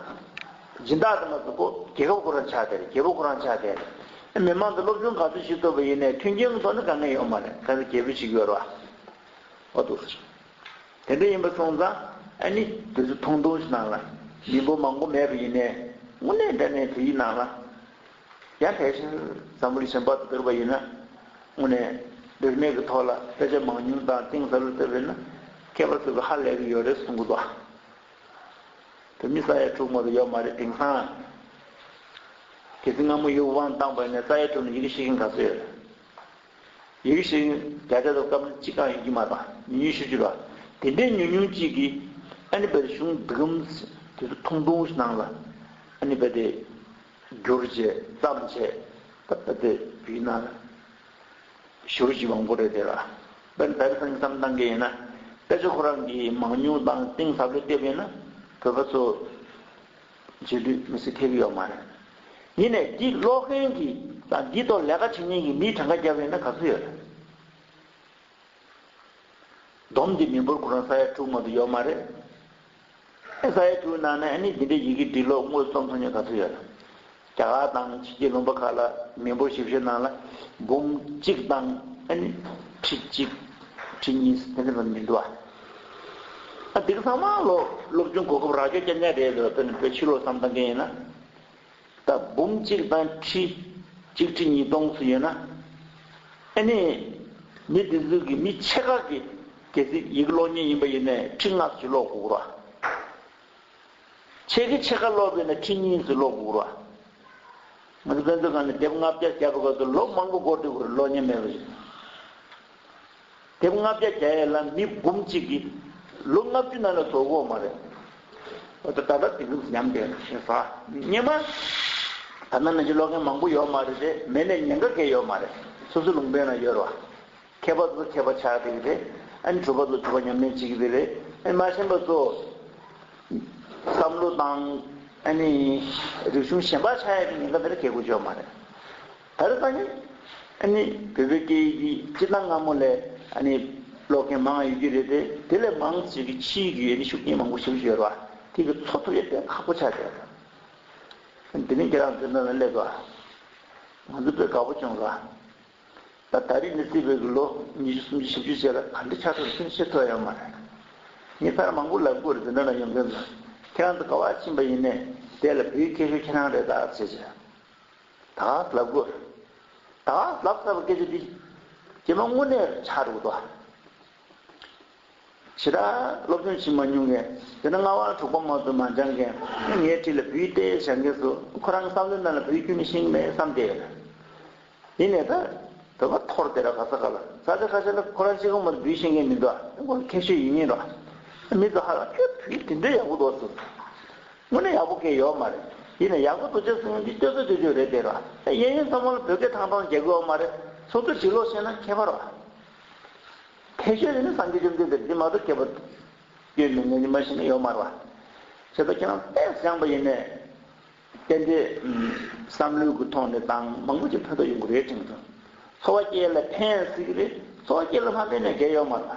སྦྱིན་བདག་དེ་མ་ཚོ་ཀོ་རྒྱལ་ཁབ་ཁོ་རང་ཆགས་བསྡད་རེད་རྒྱལ་པོ་ཁོ་རང་ཆགས་བསྡད་རེད། མི་མང་གི་སློབ་སྦྱོང་ག་ཚོད་ཞིག་ཐུབ་པ་ཡིན་ནས་མཐུན་རྐྱེན་གང་ཐོག་ནི་དཀའ་ངལ་ཡོད་མ་རེད་ག་ཚོད་རྒྱལ་པོ་ཞིག་ཡོད་ར་བ་འདུག་ཟེར། དེ་འདྲ་ཡིན་པ་སོང་ཙང་ཨ་ནི་དེ་ཚོ་ཐུང་ཐུང་ཞིག་ནང་ལ་མི་འབོར་མང་པོ་མེད་པ་ཡིན་ནས་དངོས་གནས་འདྲ་གནས་དེ་ཡི་ནང་ལ་ཡང་དེ་བཞིན་འཛམ་བུའི་ཞིང་བར་དུ་བསྡུར་བ་ཡིན་ན། དངོས་གནས་རིག་གནས་ཀྱི་ཐོག་ལ་དཔེ་ཆ་མང་ཉུང་དང་གཏིང་ཟབ་ལ་ལྟོས་པས་ན་མཁས་པ་ཚོས་ཀྱི་ཧ་ལས་ཀྱི་ཡོད་རེད་གསུང་གི་འདུག་ཨ། བོད་མི་ས་ཡ་དྲུག་མ་དུ་ཡོད་མ་རེད་དེང་སང། གལ་སྲིད་སྔ་མོ་ཡུལ་དབང་བཏང་བས་ན་ས་ཡ་དྲུག་ནས་ཡི་གེ་ཤེས་མཁན་ག་ཚོད་ཡོད་རེད། ཡི་གེ་ཤེས་མཁན་བརྒྱ་ཆ་དུ་སྐབས་ན་གཅིག་གང་ཡོད་ཀྱི་མ་གཏོགས་ཉུང་ཉུང་ཤོས་གཅིག་རེད། དེ་འདྲའི་ཉུང་ཉུང་གཅིག་གིས་ཨ་ནི་བལ་གཞུང་འདི་གམ། དེ་ཚོ་ཐུང་ཐུང་ཞིག་ནང་ལ་ཨ་ནི་བལ་དེ་རྒྱུར་བཅས་བརྩམས་བྱས་ཏེ་བུས་ན། བཞུར་བཞི་བང་པོ་རེ་དེ་ལ། བན་བོན་ཕུན་སམ་བཏང་གི་ཡིན་ན། དཔེ་ཆ་ཁོ་རང་གིས་མང་ཉུང་དང་གཏིང་ཟབ་ལས་བལྟས་པས་ན། བོད་པ་ཚོ་རྗེས་ལུས་མི་སེར་ཐེབས་ཀྱི་ཡོད་མ་རེད། ཡིན་ནས་འདི་ཀློག་མཁན་གྱིས་དང་འདིའི་ཐོག་ལས་ཀ་བྱེད་མཁན་གྱི་མིས་གྲངས་ཀ་བརྒྱབ་ཡོད་ན་ག་ཚོད་ཡོད་རེད། སྡོམ་འདི་མི་འབོར་ཁོ་རང་ས་ཡ་དྲུག་མ་དུ་ཡོད་མ་རེད། ཨེ་ཤ་ཡའི་དྲུག་ནང་ནས་ནི་འདི་འདྲའི་ཡི་གེ་འབྲི་ཀློག་དངོས་གཙོ་མཐོང་རྒྱུ་ག་ཚོད་ཡོད། རྒྱ་གར་དང་ཕྱི་རྒྱལ་ལུང་པ་ཁག་ལ་མི་འབོར་ཞིབ་བཤེར་གནང་ལ་འབུམ་གཅིག་དང་ཁྲི་གཅིག། ཁྲི་གཉིས་དེ་འདྲ་ཙམ་མི་འདུག་ཨ། འདི་ག་ཚང་མ་ལོ་སློབ་ཆུང་གོ་སྐབས་རག་རྒྱུ་སྐྱ་ཉལ་རེད་ལོས་ཕྱི་ལོ་བསམ་བཏང་མཁན་ཡིན་ན། ད་འབུམ་གཅིག་དང་ཁྲི་གཅིག་ཁྲི་གཉིས་སྟོང་སུ་ཡོད་ན། ཨེ་ནས། མི་དེ་ཚོའི་གི་མི་ཆེ་ཁག་གི་གལ་སྲིད་ཡིག་ཀློག་ཉེན་ཡིན་པ་ཡིན་ནས་ཁྲི་ལྔ་སུ་ཀློག་དགུག་རོགས། ཆེ་གི་ཆེ་ཁག་ཀློག་དགོས་ན་ཁྲི་གཉིས་སུ་ཀློག་དགུག་རོགས། ང་ཚོ་དཔོན་ཚོ་གང་ནས་དེབ་ལྔ་བརྒྱ་བརྒྱ་པ་ག་ཚོད་ལོ་མང་པོ་འགོར་འདུག་གུ་རུ་ཀློག་ཉེན་མེད་པ་ཞིག། དེབ་ལྔ་བརྒྱ་བརྒྱ་ཡས་ལ་མི་འབུམ་གཅིག་གིས་ལོ་ལྔ་བཅུ་ན་ལ་ཟོ་གོ་མ་རེད། ད་ལྟ་དེ་འདུག་ཉམས་དེ་ཞེས་ཟ་ཉེས་མ། ད་ལྟ་ན་ཅི་ལོག་མཁན་མང་པོ་ཡོད་མ་རེད་དེ་མེད་ནས་ཉེན་ཁ་གས་ཡོད་མ་རེད་སོ་སོའི་ལུང་པའི་ནང་ཡོད་རེད་བ། མཁས་པ་ཚོ་མཁས་པ་ཆགས་དེ་གི་རེད་ཨ་ནི་གྲུབ་པ་ཚོ་གྲུབ་པ་ཉམས་ལེན་བྱེད་གི་དེ་རེད་ཨ་ནི་མ་ཞེན་པ་ཚོ་བསམ་བློ་བཏང་ཨ་ནི་རིག་གཞུང་ཞེན་པ་ཆགས་ཡས་པའི་ཉེན་ཁ་དེ་ར་གས་དགོས་ཆོད་མ་རེད། ད་རེས་ད་གིན་བོད་པའི་སྐད་ཡིག་འདི་སྤྱིར་ན་སྔ་མོ་ལས་ཀློག་མཁན་མང་ཡོད་ཀྱི་རེད་དེ། དེ་ལས་མང་ཆེ་གི་ཕྱི་ཡིག་གི་ཤུགས་རྐྱེན་མང་པོ་ཞུགས་བཞིན་ཡོད་པ་དེ་གི་ཚོར་ཐུབ་ཡོད་པས་ཁག་པོ་ཆགས་བསྡད་འདུག། དེ་རིང་ཁྱེད་རང་ཚོའི་མོས་པའི་སླད་དུའང་ང་ཚོ་བོད་དགའ་པོ་སྐྱོང་དགོས་ཨ། ད་རེས་ནི་སྲིད་བོད་ཀྱི་ལོ་ཉི་ཤུ་སུམ་ཅུ་བཞི་བཅུ་བྱས་ལ་ག་འདྲའི་ཆགས་ཐུབ་མཁན་ཤེས་ཐུབ་ཡོད་མ་རེད། ངས་ཕར་མང་པོ་ལབ་དགོས་རེད་དེ་འདྲ་ན་ཡོང་མཁན་ཚོ་ཁྱེད་རང་ཚོ་དགའ་བ་ཕྱིན་པ་ཡིན་ནས་དེ་ལ་བུའི་ཁྱད་ཤོས་ཁྱེད་རང་རེད་ད་ཅེས་བྱས། དང་བསླབ་དགོས། དང་བསླབ་དཀའ་བའི་སྐད་ཆ་འདི། ཀྱེ་མ་དངོས་གནས་ཆགས་འགྲོ་གི་འདུག། བྱས་ཙང་སློབ་སྦྱོང་བྱེད་མ་མྱོང་མཁན། དེ་ན་སྔ་བར་གྲོགས་པོ་མང་ཚོགས་མ་སྦྱངས་མཁན། ངའི་འཁྲིས་ལ་བུའི་ལྟས་བཞག་མཁན་སུ་ཁོ་རང་གི་བསམ་བློའི་ནང་ལ་བུའི་རྒྱུ་ནི་ཤིང་མེད་བསམ་སྟེ། ཡིན་ནས་ད་བོད་པ་ཐོར་དེ་ར་ག་ས་ག་ལ་ས་ཆ་ཁ་ཤས་ལ་ཁོ་རང་གཅིག་གོང་མ་དུ་བུའི་ཤེས་མཁན་མི་འདུག་ཨ་དེ་ཁོ་རང་ཁེངས་ཤོས་ཡིན་ངེས་འདུག་ཨ་མི་ཚོ་ཧ་ལམ་ཁྱོད་བུ་དེ་འདྲའི་ཡག་པོ་འདུག་ཨ་སུ། དངོས་གནས་ཡག་པོ་སྐད་ཡོད་མ་རེད་ཡིན་ནས་ཡག་པོ་འདུག་བྱས་སོང་འདི་སྟོད་གོས་སྟོད་གོས་རེད་འདེད་ར་ཨེ་ཡིན་ཡིན་བསམ་བོ་ལ་བོད་སྐད་ཐང་ཐང་རྒྱལ་གོས་ཨོ་མ་རེད་ཚོགས་གཙོས་བྲིས་ལོག་བཤད་ན་ཁྱད་པར་བ། དེ་ཤོད་ཡིན་ན་སངས་རྒྱས་བཅོམ་ལྡན་འདས་འདི་མ་གཏོགས་ཁྱད་པར་ཡོད་མེད་ངས་ཉི་མ་ཤི་ན་ཡོད་མ་རེད་བ། བྱས་ཙང་ཁྱེད་རང་དཔེ་བཞག་པ་ཡིན་ནས་གཏན་དེ་བསམ་བློའི་གུ་ཐོག་ནས་ཏང་མང་པོ་ཅིག་ཕན་ཐོག་ཡོང་གི་རེད་དྲན་བྱུང། འཚོ་བ་སྐྱེལ་ལ་ཕན་སྲིད་ཀྱི་རེད་འཚོ་བ་སྐྱེལ་ལ་མ་ཕན་ནས་འགལ་ཡོད་མ་རེད་བ།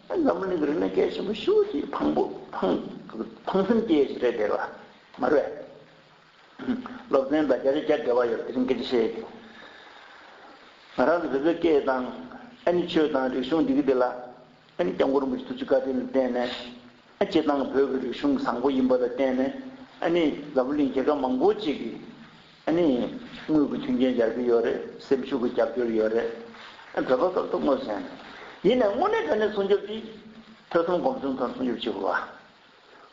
འཛམ་བུ་གླིང་གི་རིག་གནས་སྐད་ཆེན་པོ་ཤུགས་ཀྱིས་ཕངས་པོ། ཕངས་སེམས་སྐྱེ་ཞེས་རེད་དེ་ལ་མ་རེད། སློབ་ཚན་དང་རྒྱ་རིག་སྐད་འགལ་བ་ཡོད་དེ་རིང་སྐད་ཆ་བཤད་ཡོད་དེ། ང་རང་ནི་བོད་པའི་སྐད་དང། ཨ་ནི་ཆོས་དང་རིག་གཞུང་འདི་གི་དེ་ལ། ཨ་ནི་སྐྱབས་མགོན་རིན་པོ་ཆེ་ཐུགས་རྗེ་བཀའ་དྲིན་ལ་བརྟེན་ནས། ཨ་སྤྱི་དང་བོད་ཀྱི་རིག་གཞུང་བཟང་པོ་ཡིན་པ་ལ་བརྟེན་ནས། ཨ་ནི་འཛམ་བུ་གླིང་རྒྱལ་ཁབ་མང་པོ་ཅིག་གི། ཨ་ནི། དངུལ་གྱི་མཐུན་རྐྱེན་རྒྱག་རྒྱུ་ཡོད་རེད། སེམས་ཤུགས་ཀྱི་རྒྱབ་སྐྱོར་ཡོད་རེད། བོད་པ་སོབ་སོབ་ངོ་ཟན། ཡིན་ནའི་དངོས་གནས་བོད་ནས་སྲུང་སྐྱོབ་ཀྱིས། ཐོས་བསམ་སྒོམ་གསུམ་དང་སྲུང་སྐྱོབ་བྱེད་དགོས་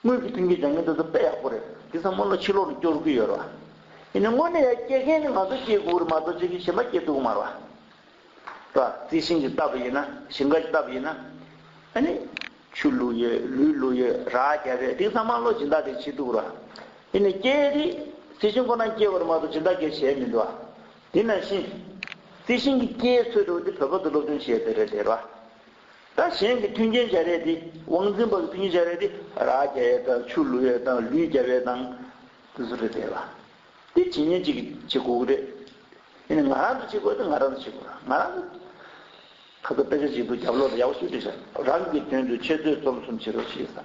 པ། དངུལ་གྱི་མཐུན་རྐྱེན་རྒྱག་མཁན་དེ་ཚོ་དཔེ་ཡག་པོ་རེད། དེ་ཚོ་སྔོན་ལ་ཕྱི་ལོག་ནས་སྐྱོར་གི་ཡོད་རེད་བ། ཡིན་ནའི་དངོས་གནས་ཡ་སྐྱེད་མཁན་ནི་ང་ཚོ་སྐྱེད་དགོས་རེད་མ་གཏོགས་ཆོས་ཀྱི་གཞས་མ་སྐྱེད་ཐུབ་གི་མ་རེད་བ། རེད་བ། རྩི་ཤིང་གིས་བཏབ་པ་ཡིན་ན། ཞིང་ཁ་གིས་བཏབ་པ་ཡིན་ན། ཨ་ནི། ཆུ་བླུགས་ཡོད་ལུས་བླུགས་ཡོད་ར་བརྒྱབ་པའི་རིགས་ཚང་མ་བློ་སྦྱིན་བདག་གིས་བྱེད་འདུག་ར་འདི་ནས་སྐྱེ་བའི་རིགས་རྩི་ཤིང་ཁོ་ན་སྐྱེ་བར་མ་གཏོགས་སྦྱིན་བདག་གིས་བྱས་མི་འདུག་དེ་ན་བཞིན། རྩི་ཤིང་གི་སྐྱེ་འཚོལ་སྤྲོ་བ་འདི་བོད་པ་ཚོས་སློབ་སྦྱོང་བྱས་ཟེར་རེད་ར། ད་གཞན་གྱི་མཐུན་རྐྱེན་བྱ་རེས་འདི་དབང་འཛིན་པ་གི་མཐུན་རྐྱེན་བྱ་རེས་འདི་ར་བརྒྱབ་ཡོད་དང་ཆུ་བླུགས་ཡོད་དང་ལུས་བརྒྱབ་ཡོད་དང། དེ་ཚོ་རེད་རེད་ར། དེ་ཇི་སྙེད་ཅིག་བྱེད་དགོས་ཀྱི་རེད། དེ་ནི་ང་རང་གིས་བྱེད་དགོས་དོན་ང་རང་གིས་བྱེད་དགོས། ང་རང་གིས། ཁག་ཐུབ་དཔེ་ཆ་ཞིག་འདུག་རྒྱབ་ལོག་ལ་ཡག་པོ་ཞིག་བྲིས་ཤག། རང་གི་དོན་དུ་འཆད་རྩོད་རྩོམ་གསུམ་བྱེད་རོགས་ཞེས་སམ།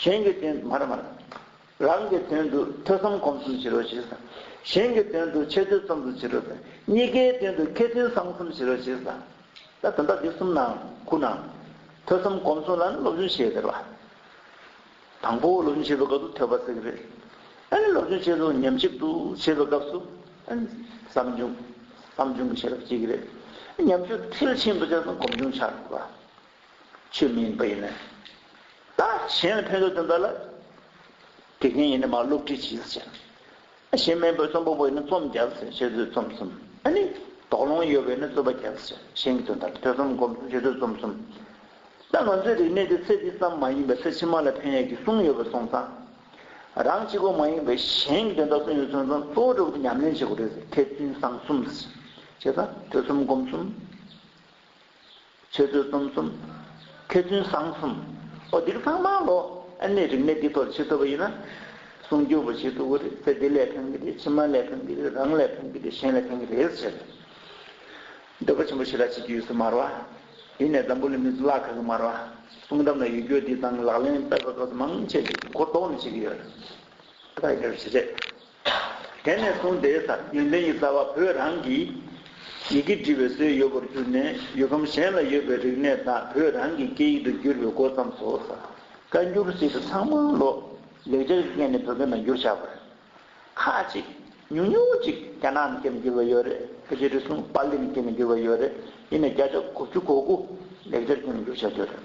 གཞན་གྱི་དོན་དུ་མར་མར། རང་གི་དོན་དུ་ཐོས་བསམ་སྒོམ་གསུམ་བྱེད་རོགས་ཞེས་སམ། གཞན་གྱི་དོན་དུ་འཆད་རྩོད་རྩོམ་གསུམ་བྱེད་རོགས་སམ། གཉིས་ཀའི་དོན་དུ་མཁས་བཙུན་བསང་གསུམ་བྱེད་རོགས་ཞེས་སམ། ད་དོན་དག་འདི་གསུམ་ནང། ཁུག་ནའང། ཐོས་བསམ་སྒོམ་གསུམ་ལ་ནི་སློབ་སྦྱོང་ཞེས་ཟེར་བ། དང་པོ་སློབ་སྦྱོང་བྱེད་པའི་སྐབས་སུ་ཐོས་པ་གསེག་རེས། སློབ་སྦྱོང་བྱེད་དུ་ཉམས་ཞིབ་ཏུ་བྱེད་པའི་སྐབས་སུ། བསམ་བྱུང། བསམ་བྱུང་གི་ཤེས་རབ་གཅིག་རེས། ཉམས་ཞིབ་མཐིལ་ཕྱིན་པ་བྱས་ན་སྒོམ་བྱུང་ཆགས་ཐུབ་པ། ཆོས་མིན་པ་ཡིན། ད་གཞན་ལ་ཕན་ཐོགས་དོན་དག་ལ། དགེ་རྒན་ཡིན་ན་མ་སློབ་ཁྲིད་ཇི་ལྟར་བྱེད། གཞན་སྨན་པོས་རྩོམ་པ་པོས་ནི་རྩོམ་རྒྱག་ཟེར་ཁྱེད་ཚོས་རྩོམ་གསུམ་ཨ་ནི། དོགས་སློང་ཡོད་པས་ནི་རྩོད་པ་རྒྱག་ཟེར་གཞན་གྱི་དོན་དག་གི་ཐོས་བསམ་སྒོམ་གསུམ་ཁྱེད་ཚོས་རྩོམ་གསུམ། ད་ང་ཚོའི་རིག་གནས་དེ་ཚེ་འདི་ཙམ་མ་ཡིན་པར་ཚེ་ཕྱི་མ་ལ་ཕན་ཡག་གི་གསུང་ཡོད་པ་སོང་ཙང། རང་གཅིག་པོ་མ་ཡིན་པར་གཞན་གྱི་དོན་དག་གསུང་ཡོད་སོང་ཙང་གཙོ་བོ་གྲོགས་པོ་ཉམས་ལེན་བྱེད་དགོས་རེད་ཟེར་ཐེག་ཚུན་བཟང་གསུམ། བྱས་ཙང་ཐོས་བསམ་སྒོམ་གསུམ། ཆོས་ཚུལ་གསུམ་གསུམ། མཁས་བཙུན་བཟང་གསུམ། ཨོ་འདིར་ཚང་མ་ལོ། ཨ་ནི་རིག་གནས་འདི་ཐོག་ཕྱི་ཐུབ་པ་ཡིན་ན། གསུང་རྒྱུ་བོ་ཞིག་ཐུག་གི་རེད་ཚེ་འདི་ལས་ཕན་གི་རེད་ཕྱི་མ་ལས་ཕན་གི་རེད་རང་ལས་ཕན་གི་རེད་གཞན་ལས་ཕན་གི་རེད་ཟེར། འདོད་པ་ཆེན་པོ་ཞིག་ལ་བྱེད་རྒྱུ་ཡོད་ཚུལ་སྨྲ་བ། དེ་ནས་འཛམ་བུ་ལི་མི་གཙུག་ལག་ཁག་གི་སྨྲ་བ། གསུང་གཏམ་ལ་ཡུལ་སྐྱོད་འདི་དང་ལག་ལེན་སྤེལ་བ་སོགས་མང་ཆེ་ཞིག་གིས་གོ་ལྡོག་ནས་བྱེད་ཀྱི་ཡོད། ད་ཡི་གེར་བྱེད་ཆེད། དེ་ནས་བཟུང་དེའི་སར་ཡོན་ཏན་གྱི་རྩ་བ་བོད་རང་གི་ཡི་གེ་འབྲི་བའི་སྲོལ་ཡོད་པར་གྱུར་ནས་ཡུལ་ཁམས་གཞན་ལ་ཡོད་པའི་རིག་གནས་དག་བོད་རང་གི་སྐད་ཡིག་ཏུ་བསྒྱུར་བའི་འགོ་བརྩམས་སོ། བཀའ་འགྱུར་བཞིན་དུ་ཚང་མ་ལོ་ལེགས་སྦྱར་གྱི་སྐད་ནས་བོད་སྐད་ནང་བསྒྱུར་བྱ་བ་རེད། ཁ་ཅིག་ཉུང་ཉུང་ཅིག་རྒྱ་ནག་སྐད་ནས་བསྒྱུར་བ་ཡོད་རེད་ཕལ་ཆེར་རེ་ཟུང་པཱ་ལིའི་སྐད་ནས་བསྒྱུར་བ་ཡོད་རེད་དེ་ནས་བརྒྱ་ཆ་དགུ་བཅུ་གོ་དགུ་ལེགས་སྦྱར་སྐད་ནང་བསྒྱུར་བྱ་རྒྱུ་རེད།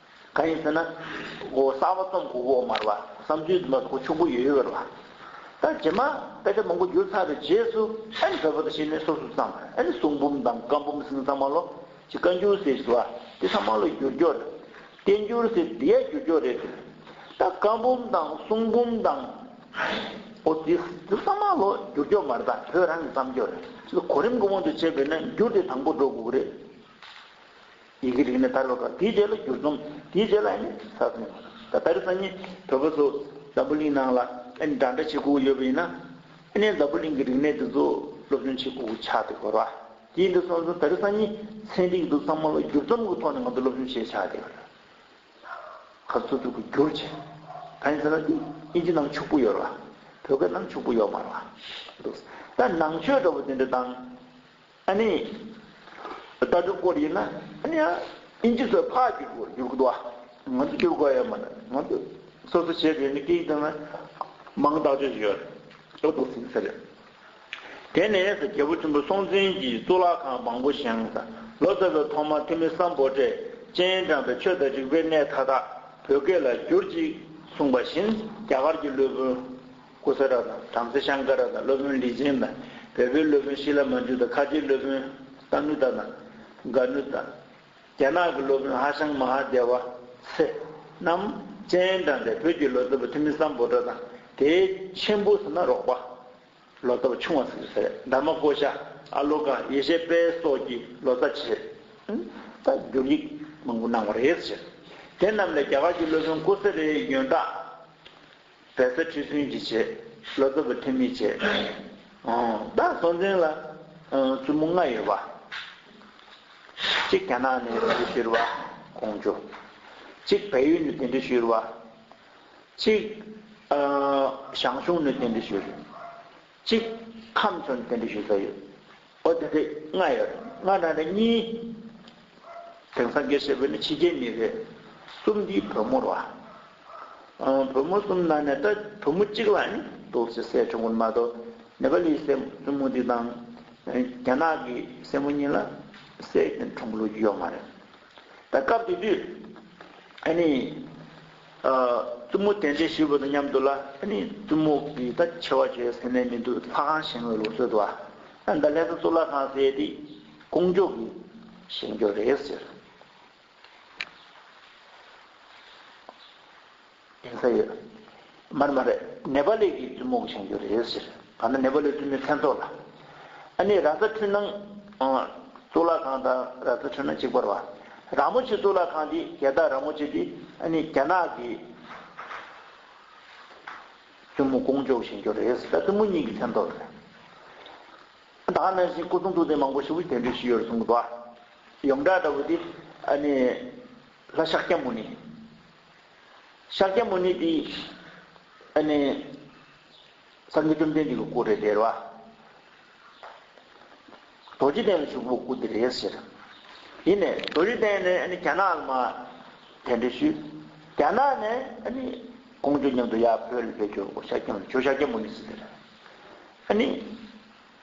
གང་ཡིན་ཟེར་ན། གསར་བ་རྩོམ་གོག་འོག་མར་བ། བསམ་ཚུལ་འདི་མ་གཏོགས་ཕྱུག་པོ་ཡོད་ཡོད་རེད་བ། ད་རྗེས་མ་དཔེ་ཆ་མང་པོ་བསྒྱུར་ཚར་བའི་རྗེས་སུ་ཨེ་ནི་བོད་པ་དང་ཤེས་ནི་སོ་སོ་ཙམ་ཨེ་ནི་གསུང་འབུམ་དང་བཀའ་འབུམ་ཟིན་ཚང་མ་ལོ་གཅིག་བཀའ་འགྱུར་ཟེར་བཞིན་བ་དེ་ཚང་མ་ལོ་བསྒྱུར་འགྱོག་རེད། བསྟན་འགྱུར་ཟེར་འདི་ཡ་བསྒྱུར་འགྱོག་རེད་དེ། ད་བཀའ་འབུམ་དང་གསུང་འབུམ་དང། ཨོ་དེ་ཚང་མ་ལོ་བསྒྱུར་འགྱོག་མ་རེད་ད་བོད་རང་གི་བརྩམས་ཆོས་རེད། གོ་རིམ་གོ་མོ་དུ་བྱས་པས་ན་འགྱུར་དེ་དང་པོ་འགྲོ་དགོས་ཀྱི་རེད། ཡི་གེ་རིགས་ནི་དར་བ་དགའ། དེའི་རྗེས་ལ་བསྒྱུར་རྩོམ། དེའི་རྗེས་ལ་ནི་ས་རྩོམ། ད་ལྟར་སང་ཉིན་བོད་པ་ཚོ་འཛམ་བུ་གླིང་ནང་ལ་འདྲ་འདྲ་བྱེད་ཁུག་ཡོད་པ་ཡིན་ན། འཛམ་བུ་གླིང་གི་རིག་གནས་འདི་ཚོ་སློབ་སྦྱོང་བྱེད་ཁུག་ཆགས་ཏེ་གོ། དེ་འདྲ་སོང་ཙང་ད་རེས་སང་ཉིན་ཚན་རིག་འདུག་ཙང་མ་ལ་བསྒྱུར་རྩོམ་གི་ཐོག་ནས་ང་ཚོ་སློབ་སྦྱོང་བྱེད་ཆགས་ཏེ་གོ། ད་ཚོ་ཚུར་དུ་བསྒྱུར་བྱས། ད་ཡིན་ཟེར་ན་དེ་ཨིན་ཇི་ནང་ཕྱུག་པོ་ཡོད་ར་བ། བོད་སྐད་ནང་ཕྱུག་པོ་ཡོད་མ་ར་བ། འདུག། ད་ནང་ཆོས་འདྲ་བོ་དེ་འདྲ་དང། ཨ་ནི། ལྟ་གྲུབ་སྐོར་ཡིན་ན་ཨ་ནི་ཨ་ཨིན་ཇི་སོགས་ཕ་བསྒྱུར་དགོས་བསྒྱུར་དགོས། ང་ཚོ་བསྒྱུར་དགོས་ཡོད་མ་རེད། ང་ཚོ་སོ་སོ་བྱེད་དགོས་ནི་སྐད་ཡིག་དང་ན་མང་དག་ཅོ་ཞིག་ཡོད་རེད། ཨོ་ཏོ་སིང་ས་རེད། དེ་ནས་ས་རྒྱལ་པོ་ཆེན་པོ་སྲོང་བཙན་གྱིས་གཙུག་ལག་ཁང་མང་པོ་བཞེངས། ས་ལོ་ཙཱ་བས་ཐོག་མར་ཐོན་མི་སམ་པོ་ཏྲས་སྤྱན་དྲངས་པའི་ཆོས་དང་རིག་པའི་གནས་མཐའ་དག་བོད་སྐད་ལ་བསྒྱུར་ཅིག་གསུངས་པ་བཞིན་རྒྱ་གར་གྱི་སློབ་དཔོན། སྐུ་ཚེ་རབ་དང་བྲམ་ཟེ་ཤངྐ་ར་དང་སློབ་དཔོན་ལི་ཆིན་དང་བལ་པོའི་སློབ་དཔོན་ཤི་ལ་མ་ཇུ་དང་ཁ་ཆེའི་སློབ་དཔོན་ཏཱ་ནུ་ཏཱ་དང་གྷ་ནུ་ཏཱ། རྒྱ་ནག་གི་སློབ་དཔོན་ཧ་ཤང་མ་ཧ་དེ་ཝཱ་ཚེ་རྣམས། སྤྱན་དྲངས་ཏེ་བོད་ཀྱི་ལོ་ཙཱ་བ་ཐི་མི་སམ་བོ་དྲ་དང་དེའི་མཆན་བུ་ཟིན་ན་རོགས་པ། ལོ་ཙཱ་བ་ཆུང་བ་ཟིག་ཟེར་འདབ་མ་ཀོ་ཤ། ཨ་ལོ་ཀ་ཡེ་ཤེས་དཔལ་སོགས་ཀྱིས་ལོ་ཙཱ་བྱས། དང་བསྒྱུར་ཡིག་མང་པོ་གནང་བ་རེད། དེ་རྣམས་ལས་རྒྱ་གར་གྱི་སློབ་དཔོན་ཀོ་སེ་རའི་ཡོན་བདག། བལ་བཟའ་ཁྲི་སྲོན་གྱིས་བྱས། ལོ་ཙཱ་བུ་ཐེ་མིས་བྱས། བདག་སོགས་འཛིན་ལ་བཙུན་མོ་ལྔ་ཡོད་པ། གཅིག་རྒྱ་ནག་ནས་དེ་འདྲི་ཞུས་བ། ཀོང་ཇོ། གཅིག་བལ་ཡུལ་ནས་དེ་འདྲི་ཞུས་བ། གཅིག་ཞང་ཞུང་ནས་དེ་འདྲི་ཞུས། གཅིག། ཁམས་ཚོན་རྟེན་འབྲེལ་ཞུ་ས་ཡོད། ཨོ་དེ་དེ་ལྔ་ཡོད། ལྔ་ནང་ནས་གཉིས། དེང་སང་དགེ་བཤེས་བོད་ནི་ཕྱི་རྒྱལ་མི་རེད། གསུམ་འདིས་བོད་མོར་བ། བོད་མོ་གསུམ་ནང་ནས་ད་བོད་མོ་གཅིག་ལ་ནི་དོགས་ཟེར་སྲས་ཆུང་གུར་མ་གཏོགས་ནེ་པ་ལིའི་སྲས་བཙུན་མོ་འདི་དང། རྒྱ་ནག་གི་སྲས་མོ་གཉིས་ལ་སྲས་དེ་འཁྲུངས་ལུགས་ཀྱི་ཡོད་མ་རེད། ད་སྐབས་དེ་དུས། བཙུན་མོ་དན་ཅན་ཞིག་བོས་དང་སྙམ་དུ་ལ། བཙུན་མོ་གིས་ད་ཆེ་བ་བྱོས་ཟེར་ནས་མི་འདུག་ལྷ་ཁང་བཞེངས་བའི་ལུགས་སྲོལ་དུ་བ། ད་ལྷས་ས་གཙུག་ལག་ཁང་བཟས་ཏེ་དཀོན་མཆོག་གིས་བཞེངས་རྒྱུ་རེད་ཟེར། གདན་ས་ཡོད། མ་རེད་མ་རེད། ནེ་པ་ལི་གི་བཙུན་མོ་བཞེངས་རྒྱུ་རེད་ཟེར། ད་ནི་ནེ་པ་ལི་བཙུན་མོའི་མཚན་ཐོག་ལ། ཨ་ནི་ར་ཙ་འཕྲུལ་སྣང། གཙུག་ལག་ཁང་དང་ར་ཙ་འཕྲུལ་སྣང་གཅིག་པར་བ། ར་མོ་ཆེ་གཙུག་ལག་ཁང་འདི་རྒྱལ་རྟགས་ར་མོ་ཆེ་འདི་ཨ་ནི་རྒྱ་ནག་གི། བཙུན་མོ་ཀོང་ཇོ་བཞེངས་རྒྱུ་རེད་ཟེར། ད་བཙུན་མོ་གཉིས་ཀྱི་མཚན་ཐོག་ལ་རེད། ད་ནང་བཞིན་སྐུ་གསུང་ཐུགས་རྟེན་མང་པོ་ཞིག་བསྡད་འདོད་ཞིག་ཡོད་རེད་གསུངས། ཡོངས་གྲགས་ལྟ་བུ་དེ་ཨ་ནི་ལྷ་ཤཱཀྱ་མུ་ནི། ཤཱཀྱ་མུ་ནི་དེ། ཨ་ནི། སངས་རྒྱས་བཅོམ་ལྡན་འདས་ཀྱི་སྐུ་རེད་དེ། རྡོ་རྗེ་གདན་ལ་བཞུགས་པའི་སྐུ་དེ་རེད་ཟེར། ཡིན་ནས་རྡོ་རྗེ་གདན་ནས་ཨ་ནི་རྒྱ་ནག་ལ་མ། དེ་འདྲ་ཞུས། རྒྱ་ནག་ནས་ཨ་ནི། ཀོང་ཇོ་མཉམ་དུ་ཡར་བོད་ལ་བེད་སྤྱོད་འོ་ཤཱཀྱ་མུ་ནི། ཁྱོད་ཤཱཀྱ་མུ་ནི་ཟེར། ཨ་ནི།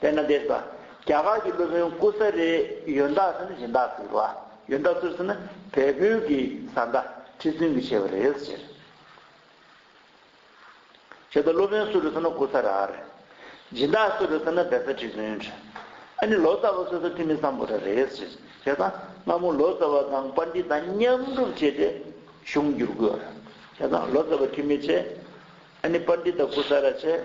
དཔལ་ནཱ་དའི་བཟའ། རྒྱ་གར་གྱི་སློབ་དཔོན་ཀུ་ས་རའི་ཡོན་བདག་ཟེར་ན་གཞན་དག་གི་བ། ཡོན་བདག་གཙོར་ཟེར་ན་བལ་པོའི་གི་བཟའ་ཟླ་ཁྲི་བཙུན་གྱི་བྱེད་པ་རེད་ཟེར། ཞེས་དང་སློབ་དཔོན་སུ་རེད་ཟེར་ན་ཀུ་ས་ར་རེད། སྦྱིན་བདག་སུ་རེད་ཟེར་ན་བལ་བཟའ་ཁྲི་བཙུན་རེད། ཨ་ནི་ལོ་ཙཱ་བ་སོ་སོ་ཐི་མི་སམ་བོ་ར་རེད་ཟེར། ཞེས་དང་སྔ་མོ་ལོ་ཙཱ་བ་དང་པཱ་ནྡི་ཏཱ་མཉམ་སྒྲུབ་བྱས་ཏེ་གཞུང་བསྒྱུར་དགོས་རེད། ཞེས་དང་ལོ་ཙཱ་བ་ཐི་མི་བྱས། ཨ་ནི་པཱ་ནྡི་ཏཱ་ཀུ་ས་ར་བྱས།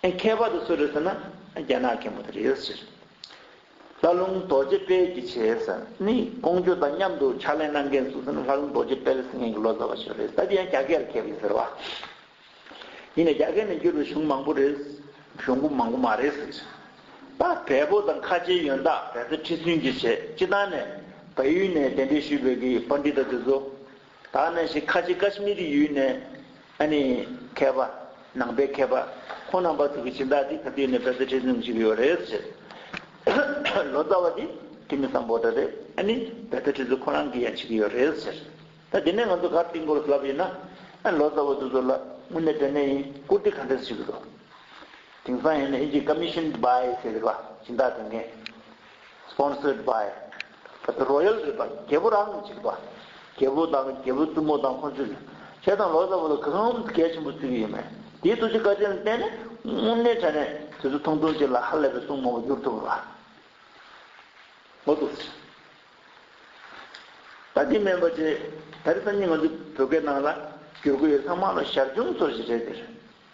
ཁྱད་པར་དུ་སུ་རེད་ཟེར་ན་རྒྱ་ནག་མཁན་པོ་དེ་རེད་ཟེར། ལྷ་ལུང་རྡོ་རྗེ་དཔལ་གྱི་བྱས་ཟེར་ནི་ཀོང་ཇོ་དང་མཉམ་དུ་ཕྱག་ལེན་གནང་མཁན་སུ་ཟེར་ན་ལྷ་ལུང་རྡོ་རྗེ་དཔལ་སེང་གེ་གི་ལོ་ཙཱ་བ་ཞིག་རེད་ད་དེ་ཡང་རྒྱ་སྐད་ལ་མཁས་པ་ཡིན་ཟེར་བ། ཡིན་ནས་རྒྱ་སྐད་ནས་བསྒྱུར་བའི་གཞུང་མང་པོ་རེད་གཞུང་པོ་མང་པོ་མ་རེད་ཟེར། ད་བལ་པོ་དང་ཁ་ཆེའི་ཡོན་བདག་བལ་བཟའ་ཁྲི་བཙུན་གྱི་བྱས་སྤྱི་བཏང་ནས་བལ་ཡུལ་ནས་གདན་འདྲེན་ཞུས་བོད་ཀྱི་པ་འདི་ལྟ་དེ་ཚོ། ད་ནི་ཞིག་ཁ་ཆེ་ཀཱཤ་མི་རི་ཡུལ་ནས་ཨ་ནི་མཁས་པ། ནང་པའི་མཁས་པ། ཁོང་རྣམ་པ་ཚོ་གི་སྦྱིན་བདག་འདི་ད་དུས་ནས་བལ་བཟའ་ཁྲི་སྲོང་གི་བྱིན་གྱིས་ཡོད་རེད་ཟེར། ལོ་ཙཱ་བ་འདི་ཁྲི་མི་བཟང་པོ་འདྲ་རེད་ཨ་ནི་བལ་བཟའ་ཁྲི་ཚོ་ཁོ་རང་གི་ཡང་བྱིན་གྱིས་ཡོད་རེད་ཟེར། ད་དེ་ནས་ང་ཚོ་གར་སྟེགས་མགོ་ལ་བསླབ་ཡོད་ན། ཨ་ནི་ལོ་ཙཱ་བ་འདི་ཚོ་ལ་དངོས་གནས་དྲན་ནས་ཡིན་བཀུར་སྟི་ག་འདྲས་བྱེད་ཀྱི་འདུག། དེང་སང་ཡང་ན་ཨིན་ཇིའི་ཀཱ་མི་ཤོན་སྦའི་ཟེར་བ་སྦྱིན་བདག་དེ་མཁན། Sponsored by Royal River རྒྱལ་པོ་རང་གཅིག་པ། རྒྱལ་པོ་དང་རྒྱལ་པོའི་བཙུན་མོ་དང་ཁོང་ཚོས་ཁྱེད་དང་ལོ་ཙཱ་བ་ལ་གང་ངམ་གལ་ཆེན་པོ་བརྩི་གི་ཡོད་མོད། དེའི་ཐུགས་རྗེ་བཀའ་དྲིན་ལ་བརྟེན་ནས་དངོས་གནས་ཆ་ནས་དེ་ཚོ་ཐུང་ཐུང་གཅིག་ལ་ཧ་ལས་པའི་སྲུང་མ་བ་གྱུར་ཐུབ་ལ། ངོ་ཐུག་སྲིད། ད་འདི་མེན་པ་ཆེ་དར་སང་ཉིན་ང་ཚོའི་བོད་སྐད་ནང་ལ་བསྒྱུར་དགོས་ཡོད་ལྷག་མ་ལ་ཞར་བྱུང་ཚོར་ཞིག་རེད་འདིར་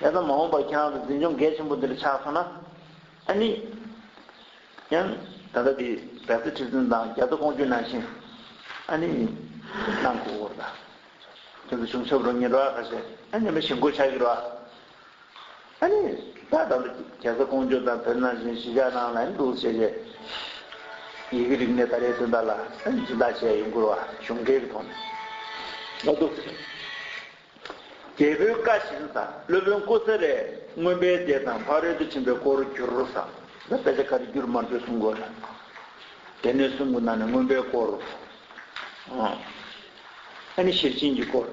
ཡང་ན་མ་འོངས་པར་ཁྱེད་རང་གི་འཛིན་སྐྱོང་གལ་ཆེན་པོ་འདིར་ཆགས་སོང་ན། ཨ་ནི། ཡང། ད་ལྟ་འདི་རྒྱ་རྩེ་ཁྲི་བཙུན་དང་རྒྱ་མཚོ་སྐོང་རྒྱུད་ནང་བཞིན། ཨ་ནི། གནང་དགོས་སྐོར་དང། དེ་ཚོ་བྱུང་ཆོག་རོ་ཉི་རོ་ཨ་ཁ་ཤས་ཨ་ནི་མི་ཞིག་མགོ་ཆགས་ཀྱི་རོ་ཨ། ཨ་ནི། ད་ལྟ་འདི་རྒྱ་རྩེ་སྐོང་རྒྱུད་དང་བོད་ནང་བཞིན་གཞིས་ཆགས་ནང་ལ་ཨ་ནི་འདུག་བྱས་བྱས། ཡི་གེ་རིག་གནས་ད་རེས་དོན་དག་ལ་ཨ་ནི་སྦྱིན་བདག་བྱས་ཡོང་དགོས་རོ་ཨ་གཞུང་འབྲེལ་གྱི་ཐོག་ནས། ཨ་དུ། རྒྱལ་པོའི་བཀའ་བཞིན་བཟའ། སློབ་དཔོན་སྐུ་ཚེ་རལ་རྔོན་པའི་སྡེ་དང་ཕ་རོལ་ཏུ་ཕྱིན་པའི་སྐོར་བསྒྱུར་རོ་བཟའ། ལ་དཔེ་ཆ་ག་རེ་བསྒྱུར་མར་འདོད་གསུང་གོ། སྡེ་སྣོད་གསུམ་གྱི་ནང་ནས་རྔོན་པའི་སྐོར། ཨ་ནི་ཤེར་ཕྱིན་གྱི་སྐོར།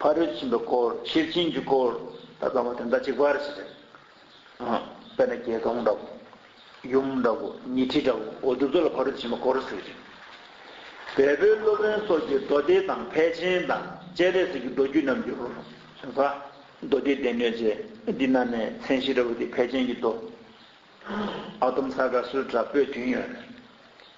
ཕ་རོལ་ཏུ་ཕྱིན་པའི་སྐོར་ཤེར་ཕྱིན་གྱི་སྐོར། ད་བཟའ་བ་དེ་ཟླ་གཅིག་པར་བྱེད། དཔེར་ན་རྒྱལ་སྟོང་འདྲ་བོ། ཡུམ་འདྲ་བོ་ཉི་ཁྲི་འདྲ་བོ་འོ་དུ་ཚོ་ལ་བར་དོ་ཕྱིན་པ་གོ་རུ་ཟེར་ཞིང། བལ་པོའི་སློབ་དཔོན་སོགས་ཀྱིས་མདོ་སྡེ་དང་ཕལ་ཆེན་དང་སྤྱན་རས་གཟིགས་ཀྱི་མདོ་རྒྱུད་རྣམས་བསྒྱུར། གསུངས་ས། མདོ་སྡེའི་སྡེ་སྣོད་ཅེས་འདི་ན་ནས་མཚན་གཞི་འདྲ་བོ་དེ་ཕལ་ཆེན་གྱི་མདོ། ཨ་དོམ་ས་ག་སུ་འདྲ་བོས་བསྒྱུར་ཡོད།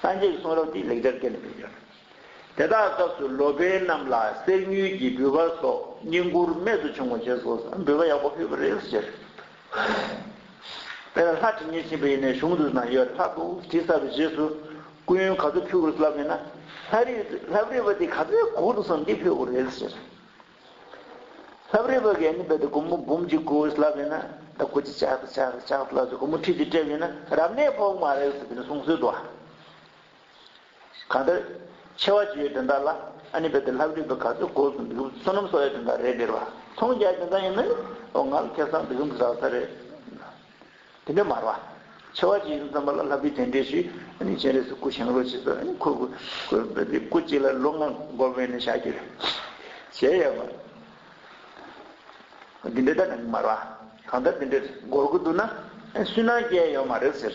སངས་རྒྱས་ཀྱི་གསུང་རབ་འདི་ལེགས་སྦྱར་སྐད་ལས་མི་འགྱུར། དེ་དག་སྐབས་སུ་ལོ་པཎ་རྣམས་ལ་གསེར་དངུལ་གྱི་འབུལ་བ་སོགས་བསྙེན་བཀུར་རྨད་དུ་བྱུང་བ་བྱས་སོ། འབུལ་བ་ཡག་པོ་ཕུལ་བར་རིལ་བསྲེལ་བྱས། དཔལ་ལ་ལྷ་དྲི་ངད་འབྱིན་པ་ཡིན་ནས་གཞུང་དུ་ན་ཡོད་ལྷ་དུ་དྲི་ཟ་བའི་རྗེས་སུ་སྐུ་ཡོན་ག་ཚོད་ཕུལ་དགོས་སུ་ལབ་ཡོད་ན། ལྷ་རིགས་ལྷ་བརིས་པ་འདི་ག་ཚོད་གོག་འདུག་བསམ་སྟེ་ཕུལ་བར་རིལ་བསྲེལ། ལྷབ་རིབ་བ་གན་ནི་བད་དུ་གུ་མུ་བུམ་གཅིག་གུ་ཨུས་ལྷབ་ཡོད་ན་ད་གུ་ཅི་ཆག་ཆག་ཆག་ཆག་ལྷབ་ཅིག་གུ་མུ་ཁྲིད་ཅིག་སྤྲད་ཡོད་ན་རབ་གནས་ཕོག་མ་རེད་ཟེར་བི་ནི་གསུང་སྲོལ་འདུག་ཨ། གང་ལྟར། ཆེ་བ་ཇི་ཡོད་དེ་འདྲ་ལ་ཨ་ནི་བད་དུ་ལྷབ་རིབ་བ་ག་ཚོད་གོ་སོང་འདུག་བསོད་ནམས་སོགས་ཡོད་དེ་འདྲ་རེད་ཟེར་བ་མཐོང་རྒྱ་དེ་འདྲ་ཡིན་ན་ཨོ་ང་ལ་ཁེ་བཟང་འདི་ཙམ་ཟ་ས་རེད། དེ་འདྲ་མར་བ། ཆེ་བ་གཅིག་ཡིན་ཙམ་པ་ལ་ལྷ་བུས་དེ་འདྲས་ཤིག། སྤྱན་རས་སུ་སྐུ་བྱིན་རོགས་བྱེད་ཟེར། ཁོས་སྐུ། སྐུ་གཅིག་ལ་ལོ་ལྔ་འགོར་བས་ནི་ཞག་གཅིག་རེད། གཞལ་ཡས་པ། འདི་འདྲས་ད་ནི་མར་བ། གང་ལྟར་འདི་འདྲས་འགོར་དགོས་འདུག་ན། སུན་སྣང་སྐྱེ་ཡོད་མ་རེད་ཟེར།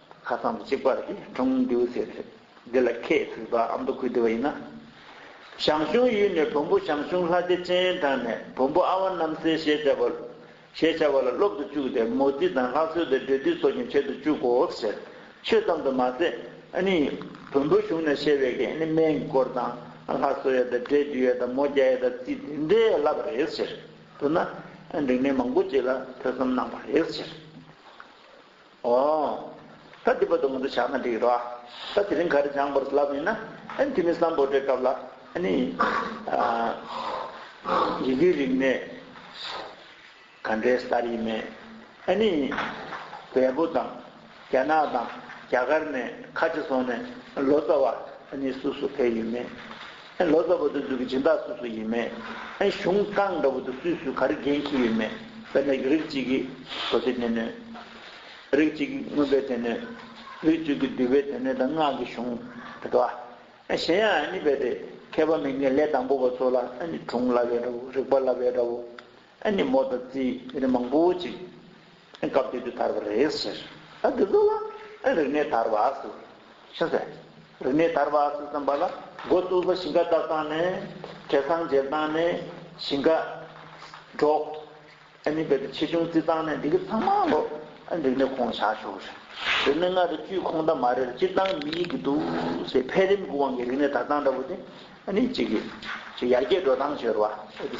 ཁ་སང་དུ་གཅིག་པར་གྱི་གྲོང་མདུད་ཟེར་བའི་འདི་ལ་ཁྱེད་ཚུད་པ་ཨ་མདོ་ཁུལ་བདེ་བ་ཡིན་ན། ཞང་ཞུང་ཡུལ་ནས་བོན་པོ་ཞང་ཞུང་ལྷ་རྗེ་སྤྱན་དྲངས་ནས་བོན་པོ་ཨ་བ་རྣམ་སྲས་ཞེས་བྱ་བ་ཞེས་བྱ་བ་ལ་སློབ་ཏུ་བཅུག་སྟེ་མོ་རྩིས་དང་ལྷ་གསོལ་ཏེ་འབྲེལ་མཐུད་སོགས་ཀྱང་བྱེད་དུ་བཅུག་གོ་ཟེར་ཆོས་ཙམ་དུ་མ་ཟད་ནི། བོན་པོ་གཞུང་ནས་བཤད་པའི་གན་ནི་སྨན་གྱི་སྐོར་དང་ལྷ་གསོལ་ཡས་དང་འབྲས་འདུས་ཡས་དང་མོ་བརྒྱ་ཡས་དང་རྩིས་དེ་འདྲའི་བསླབ་པ་རེད་ཟེར་དུ་ན་འབྲིང་གནས་མང་པོ་ཅིག་ལ་ཐོས་བསམ་གནང་བ་རེད་ཟེར། ཨོ། ད་འདི་པ་དོ་ང་ཚོ་བྱ་ན་འགྲིག་རོ་ཨ། ད་དེ་རིང་ག་རེ་སྦྱངས་པར་ལབ་ཡིན་ན། ཨ་ནི་དེ་མིན་སམ་བོད་འབྲེལ་སྐབས་ལ་ཨ་ནི། ཡི་གེའི་རིག་གནས་ག་འདྲའི་གསར་ཡིན་མེད་ཨ་ནི། བལ་པོ་དང་རྒྱ་ནག་དང་རྒྱ་གར་ནས་ཁ་ཆེ་སོང་ནས་ལོ་ཙཱ་བ་ཨ་ནི་སུ་སུ་ཕེབས་ཡོད་མེད། ལོ་ཙཱ་བོ་དེ་ཚོའི་སྦྱིན་བདག་སུ་སུ་ཡིན་མེད། གཞུང་རྐང་འདྲ་བོ་དེ་སུས་སུས་ག་རེ་འགན་འཁྱེར་ཡོད་མེད་དཔེར་ན་རིགས་གཅིག་གི་དོ་ཚིགས་སྣེ་སྣོད། རིགས་གཅིག་གི་དངོས་དཔེ་སྡེ་སྣོད། རིགས་གཅིག་གི་འདུས་པའི་སྡེ་སྣོད་དང་སྔགས་ཀྱི་གཞུང་དེ་འདྲ་བ། གཞན་ཡང་གཉིས་པའི་དེ་མཁས་པ་མི་འགན་ལས་དང་པོ་བ་ཚོ་ལ་དྲུང་སླ་བའི་འདྲ་བོ་རིག་པ་སླ་བའི་འདྲ་བོ། ཨ་ནི་མོ་དང་ཙི་ཨི་ནི་མང་པོ་ཅིག་སྐབས་དེ་དུས་དར་བ་རེད་ཟེར། ཨ་དེ་ཚོ་ལ་རིག་གནས་དར་བ་ཟེར་ཤ་ཟེར། རིག་གནས་དར་བ་ཟེར་བསམ་པ་ལ་མགོ་བཙུགས་ལ་ཞིང་ཁ་བཏབ་སྟངས་ནི་བྲེ་སྲང་འཇལ་སྟངས་ནི་ཞིང་ཁ་སྒྲོག་ཨ་ནི་བལ་དུ་ཆེ་ཆུང་བརྩི་སྟངས་ནི་འདི་གི་ཚང་མ་ལོ་ཨ་རིག་གནས་ཁོངས་བཞག་ཞོག་ཟེར། རིག་གནས་ལྔ་རེ་བཅུའི་ཁོངས་འདབ་མ་རེར་སྤྱིར་བཏང་མི་ཡིག་གི་འདུག་སའི་འཕེལ་རིམ་གྱི་དབང་གིས་རིག་གནས་དར་སྟངས་འདྲ་པོ་དེ་ཨ་ནི་གཅིག་གིས་ཡར་རྒྱས་འགྲོ་སྟངས་བྱོས་ར་བ་ཨ་དེ།